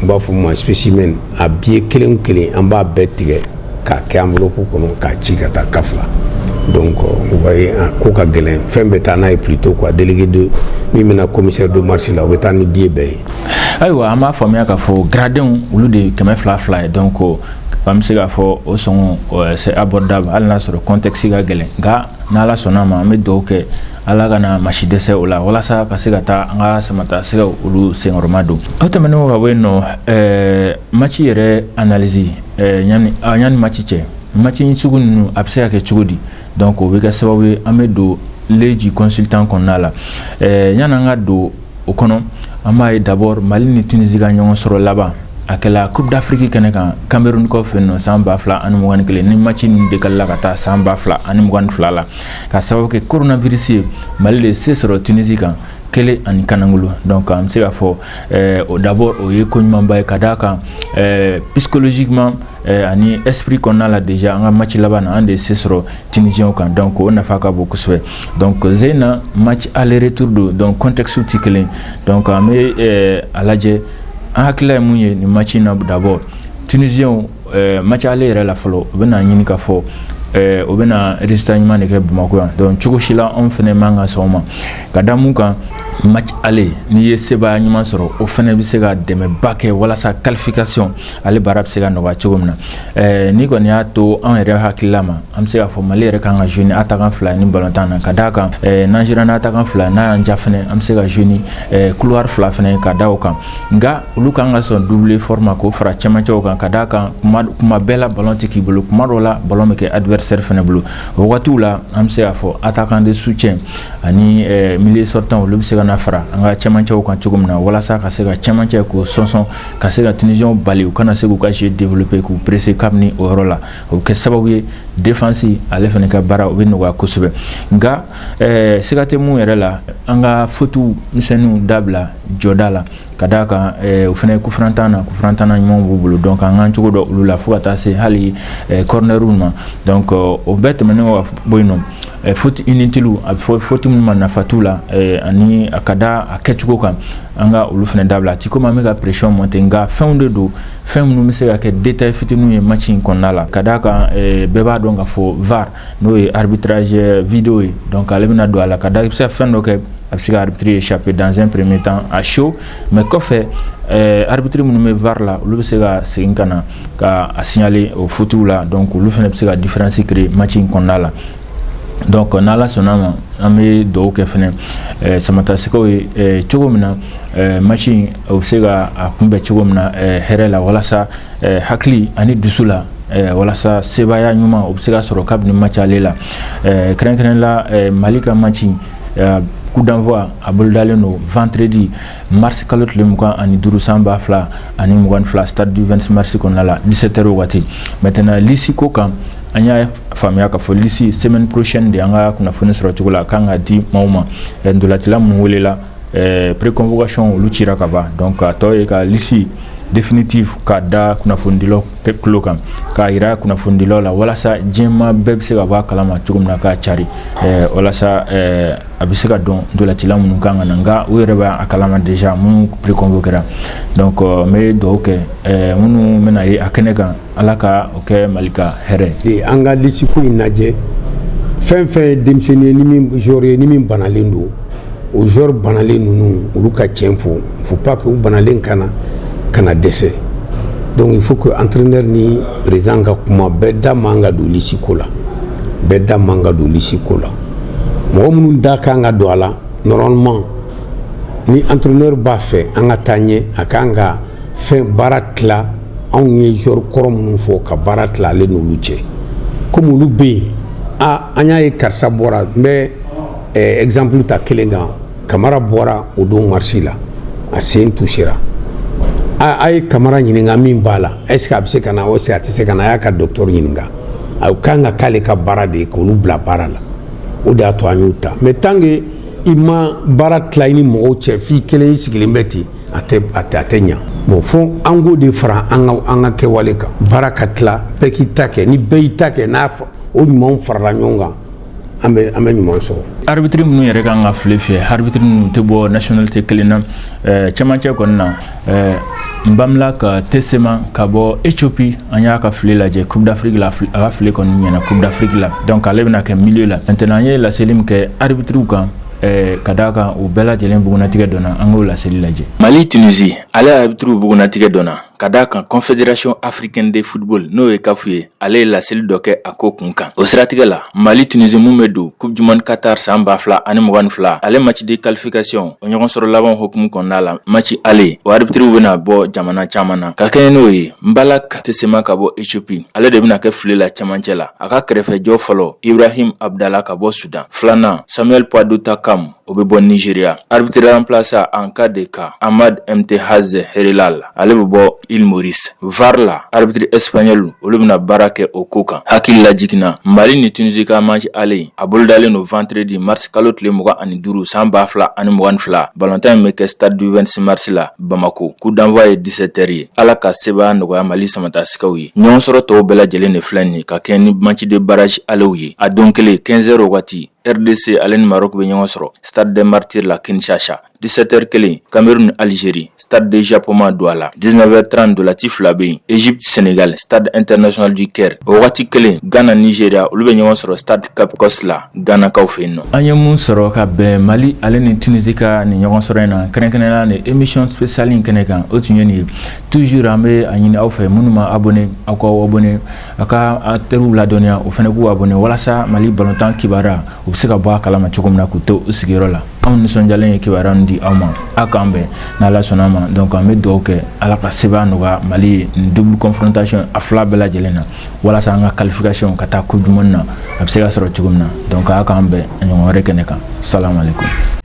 n b'a fɔ o ma spécimen a biye kelen o kelen an b'a bɛɛ tigɛ k'a kɛ enveloppe kɔnɔ k'a ci ka taa CAF la donc vous voyez a ko ka gɛlɛn fɛn bɛ taa n'a ye plutôt quoi délégué de min bɛna commissaire de match la o bɛ taa ni biye bɛɛ ye ayiwa an b'a faamuya k'a fɔ garadenw olu de ye kɛmɛ fila fila ye donc an bɛ se k'a fɔ o sɔngɔ euh, c'est abordable hali n'a sɔrɔ contexte ka gɛlɛn nka n'ala sɔnna a ma an bɛ dugawu kɛ ala kana maa si dɛsɛ o la walasa ka se ka taa an ka samatasɛgɛ olu senkɔrɔmadon o tɛmɛnen ka bɔ yen nɔ euh, maci yɛrɛ analyse euh, yanni ah, yanni maci cɛ maci sugu ninnu a bɛ se ka kɛ cogo di donc o bɛ kɛ sababu ye an bɛ don leji consultant kɔnɔna la yanni an ka don o kɔnɔ an b'a ye d'abord mali ni tunisi ka ɲɔgɔn sɔrɔ laban a kɛla coupe d'afrique kɛnɛ kan cameroun kɔ fɛ nɔ san ba fila ani mugan ni kelen ni match ninnu dekalela ka taa san ba fila ani mugan ni fila la ka sababu kɛ coronavirus ye mali de se sɔrɔ tunisi kan kelen ani kanangolo donc an bɛ se k'a fɔ eh, o d'abord o ye ko ɲumanba ye ka d'a kan eh, psychologiquement eh, ani esprit kɔnɔna la déjà an ka match laban na an de ye se sɔrɔ tunisiens kan donc o nafa ka bon kosɛbɛ Donc sen in na match aller retour don donc contexte tɛ kelen donc an bɛ eh, a lajɛ an hakilila ye mun ye nin match in na d'abord tunisiens eh, match aller yɛrɛ la fɔlɔ u bɛna ɲini ka fɔ eh, u bɛna résultat ɲuman de kɛ Bamakɔ yan donc cogo si la anw fana man ka sɔn o ma ka da mun kan match aller n'i ye sebaaya ɲuman sɔrɔ o fana bɛ se ka dɛmɛba kɛ walasa qualification ale baara bɛ se ka nɔgɔya cogo min na eh, ni kɔni y'a to an yɛrɛ hakilila ma an bɛ se k'a fɔ mali yɛrɛ kan ka jouer ni attaquant fila ni balontan na ka d'a kan eh, n'an jouera n'attaquant fila n'a y'an ja fɛnɛ an bɛ se ka jouer ni eh, couloir fila fɛnɛ ka da o kan nka olu kan ka sɔn double effort ma k'o fara cɛmancɛw kan ka d'a kan kuma kuma bɛɛ la balon tɛ k'i bolo kuma dɔw la balon bɛ kɛ adversaire fɛnɛ bolo o wagatiw la an bɛ se k'a fɔ attaquant de soutien ani milieu sortant olu bɛ se ka na fara an ka cɛmancɛw kan cogo min na walasa ka se ka cɛmancɛ k'o sɔnsɔn ka se ka tunisiens bali u kana se k'u ka jeu développer k'u presser kabini o yɔrɔ la o bɛ kɛ sababu ye défense ale fana ka baara o bɛ nɔgɔya kosɛbɛ nka eh, siga tɛ mun yɛrɛ la an ka fautes misɛnninw dabila jɔda la ka d'a kan eh, o fana ye coup franc tanna coup franc tanna ɲumanw b'u bolo donc an k'an cogo dɔn olu la fo ka taa se hali eh, cornerw ma donc o bɛɛ tɛmɛnen kɔ ka bɔ yen nɔ faute inutile a bɛ fɔ faute minnu ma nafa t'u la ani a ka da a kɛcogo kan an ka olu fana dabila a ti komi an bɛ ka pression monter nka fɛnw de don fɛn minnu bɛ se ka kɛ détail fitininw ye match in kɔnɔna la ka d'a kan bɛɛ b'a dɔn k'a fɔ VAR n'o ye arbitrage vidéo ye donc ale bɛna don a la ka da i bɛ se ka fɛn dɔ kɛ a bɛ se ka arbitre échapper dans un premier temps à chaud mais kɔfɛ arbitre minnu bɛ VAR la olu bɛ se ka segin ka na ka a signaler o fautes la donc olu fana bɛ se ka différence créer match in kɔnɔna la donc n'ala sɔnna ma an bɛ dugawu kɛ fana eh, samatasɛgɛw ye eh, cogo min na eh, match in o bɛ se ka a kunbɛn cogo min na hɛrɛ la walasa hakili ani dusu la walasa sebaaya ɲuman o bɛ se ka sɔrɔ kabini match ale la kɛrɛnkɛrɛn la mali ka match Euh, coup d'envoi a bolodalen don vendredi mars kalo tile mugan ani duuru san ba fila ani mugan fila stade du 26 mars kɔnɔna la 17 heures waati maintenant lisi ko kan an y'a faamuya k'a fɔ lisi semaine prochaine de an ka kunnafoni sɔrɔ cogo la a kan ka di maaw ma euh, ntolacila minnu welela euh, préconvocation olu cira ka ban donc a tɔ ye ka lisi définitive ka da kunnafonidilaw tulo kan k'a yira kunnafonidilaw la walasa diɲɛmaa bɛɛ bɛ se ka bɔ a kalama cogo min na k'a cari eh, walasa eh, a bɛ se ka dɔn ntolacila minnu kan ka na nka u yɛrɛ b'a kalama déjà minnu préconvoquera donc euh, n bɛ dugawu kɛ eh, minnu bɛna ye a kɛnɛ kan ala ka o kɛ mali ka hɛrɛ ye an ka lisiko in lajɛ fɛn fɛn ye denmisɛnnin ye ni min joueur ye ni min banalen don o joueur banalen ninnu olu ka cɛn fɔ faut pas que u banalen ka na ka na dɛsɛ donc faut que entraîneur ni prési ka kuma bɛɛ da man ka don lisiko la bɛɛ da man ka don lisiko la mɔgɔ minnu da kan ka don a la normalement ni entraîneur b'a fɛ an ka taa ɲɛ a kan ka fɛn baara tila anw ye joueur kɔrɔ minnu fɔ ka baara tila ale n'olu cɛ komi olu bɛ yen aa an y'a ye karisa bɔra n bɛ Exemple ta kelen kan kamara bɔra o don maci la a sen touchera aaa a ye kamara ɲininka min b'a la est-ce que a bɛ se ka na o se a tɛ se ka na a y'a ka docteur ɲininka a kan ka k'ale ka baara de ye k'olu bila baara la o de y'a to an y'o ta mais tant que i ma baara tila ni mɔgɔw cɛ f'i kelen sigilen bɛ ten a tɛ ɲɛ bon fo an k'o de fara an ka kɛwale kan baara ka tila bɛɛ k'i ta kɛ ni bɛɛ y'i ta kɛ n'a o ɲuman farala ɲɔgɔn kan an bɛ an bɛ ɲuman sɔrɔ arbitre minnu yɛrɛ kan ka file fiyɛ arbitre ninnu tɛ bɔ nationalité kelen na eh, cɛmancɛ kɔni na eh, nbamlak tesema ka bɔ ethiopie an y'a ka file lajɛ coupe d'afrique la a ka file kɔni ɲɛna coupe d'afrique la donc ale bɛna kɛ milieu la maintenant an ye laseli min kɛ arbitriw kan eh, ka d'a kan u bɛɛ lajɛlen bugunnatigɛ dɔnna an k'o laseli lajɛ mali tunisi ale arbitriw bugunnatigɛ dɔnna ka d'a kan confédération africaine de football n'o ye caf ye ale ye laseli dɔ kɛ a ko kun kan o siratigɛ la mali tunisi mun bɛ don coupe du monde qatar san ba fila ani mugan ni fila ale maci de qualification o ɲɔgɔn sɔrɔ laban hukumu kɔnɔna la maci ale o arbitriw bɛna bɔ jamana caman na ka kɛɲɛ n'o ye nbamlak tesema ka bɔ ethiopie ale de bɛna kɛ file la camancɛ la a ka kɛrɛfɛjɔ fɔlɔ ibrahim abdala ka bɔ sudan filanan samuel pwadutakam o bɛ bɔ nigeria arbitre remplaçant en cas de cas ahmad imtehaz heeralall ale bɛ bɔ île maurice var la arbitre espagnol olu bɛna baara kɛ o ko kan hakili lajiginna mali ni tunisi ka maci ale a bolodalen don vendredi mars kalo tile mugan ani duuru san ba fila ani mugan ni fila balontan in bɛ kɛ stade du 26 mars la bamakɔ coup d'envoi ye 17h ye ala ka sebaaya nɔgɔya mali samatasɛgɛw ye ɲɔgɔn sɔrɔ tɔw bɛɛ lajɛlen de filɛ nin ka kɛɲɛ ni maci de barrage alew ye a don kelen 15h wagati rdc ale ni maroc bɛ ɲɔgɔn sɔrɔ stade des martyrs la kinshasa 17h kelen cameroun algérie stade de japoma douala 19h30 dolati fila bɛ yen egypte senegal stade international du caire o wagati kelen ghana nigeria olu bɛ ɲɔgɔn sɔrɔ stade cape coast la ghanakaw fɛ yen nɔ an ye mun sɔrɔ ka bɛn mali ale ni tunisi ka nin ɲɔgɔn sɔrɔ in na kɛrɛnkɛrɛnnenya ni émission spéciale in kɛnɛ kan o tun ye nin ye toujours an bɛ a ɲini aw fɛ minnu ma abonné aw k'aw abonné A ka a teriw ladɔnniya o fana k'u abonné walasa Mali balontan kibaruya u bɛ se ka bɔ a kalama cogo min na k'u to u sigiyɔrɔ la. Anw nisɔndiyalen ye kibaruya ninnu di aw ma, aw k'an bɛn n'Ala sɔnn'a ma donc an bɛ dugawu kɛ Ala ka sebaaya nɔgɔya Mali ye nin double confrontation a fila bɛɛ lajɛlen na walasa an ka qualification ka taa coupe du monde na a bɛ se ka sɔrɔ cogo min na donc aw k'an bɛn a ɲɔgɔn wɛrɛ kɛnɛ kan salamalekum.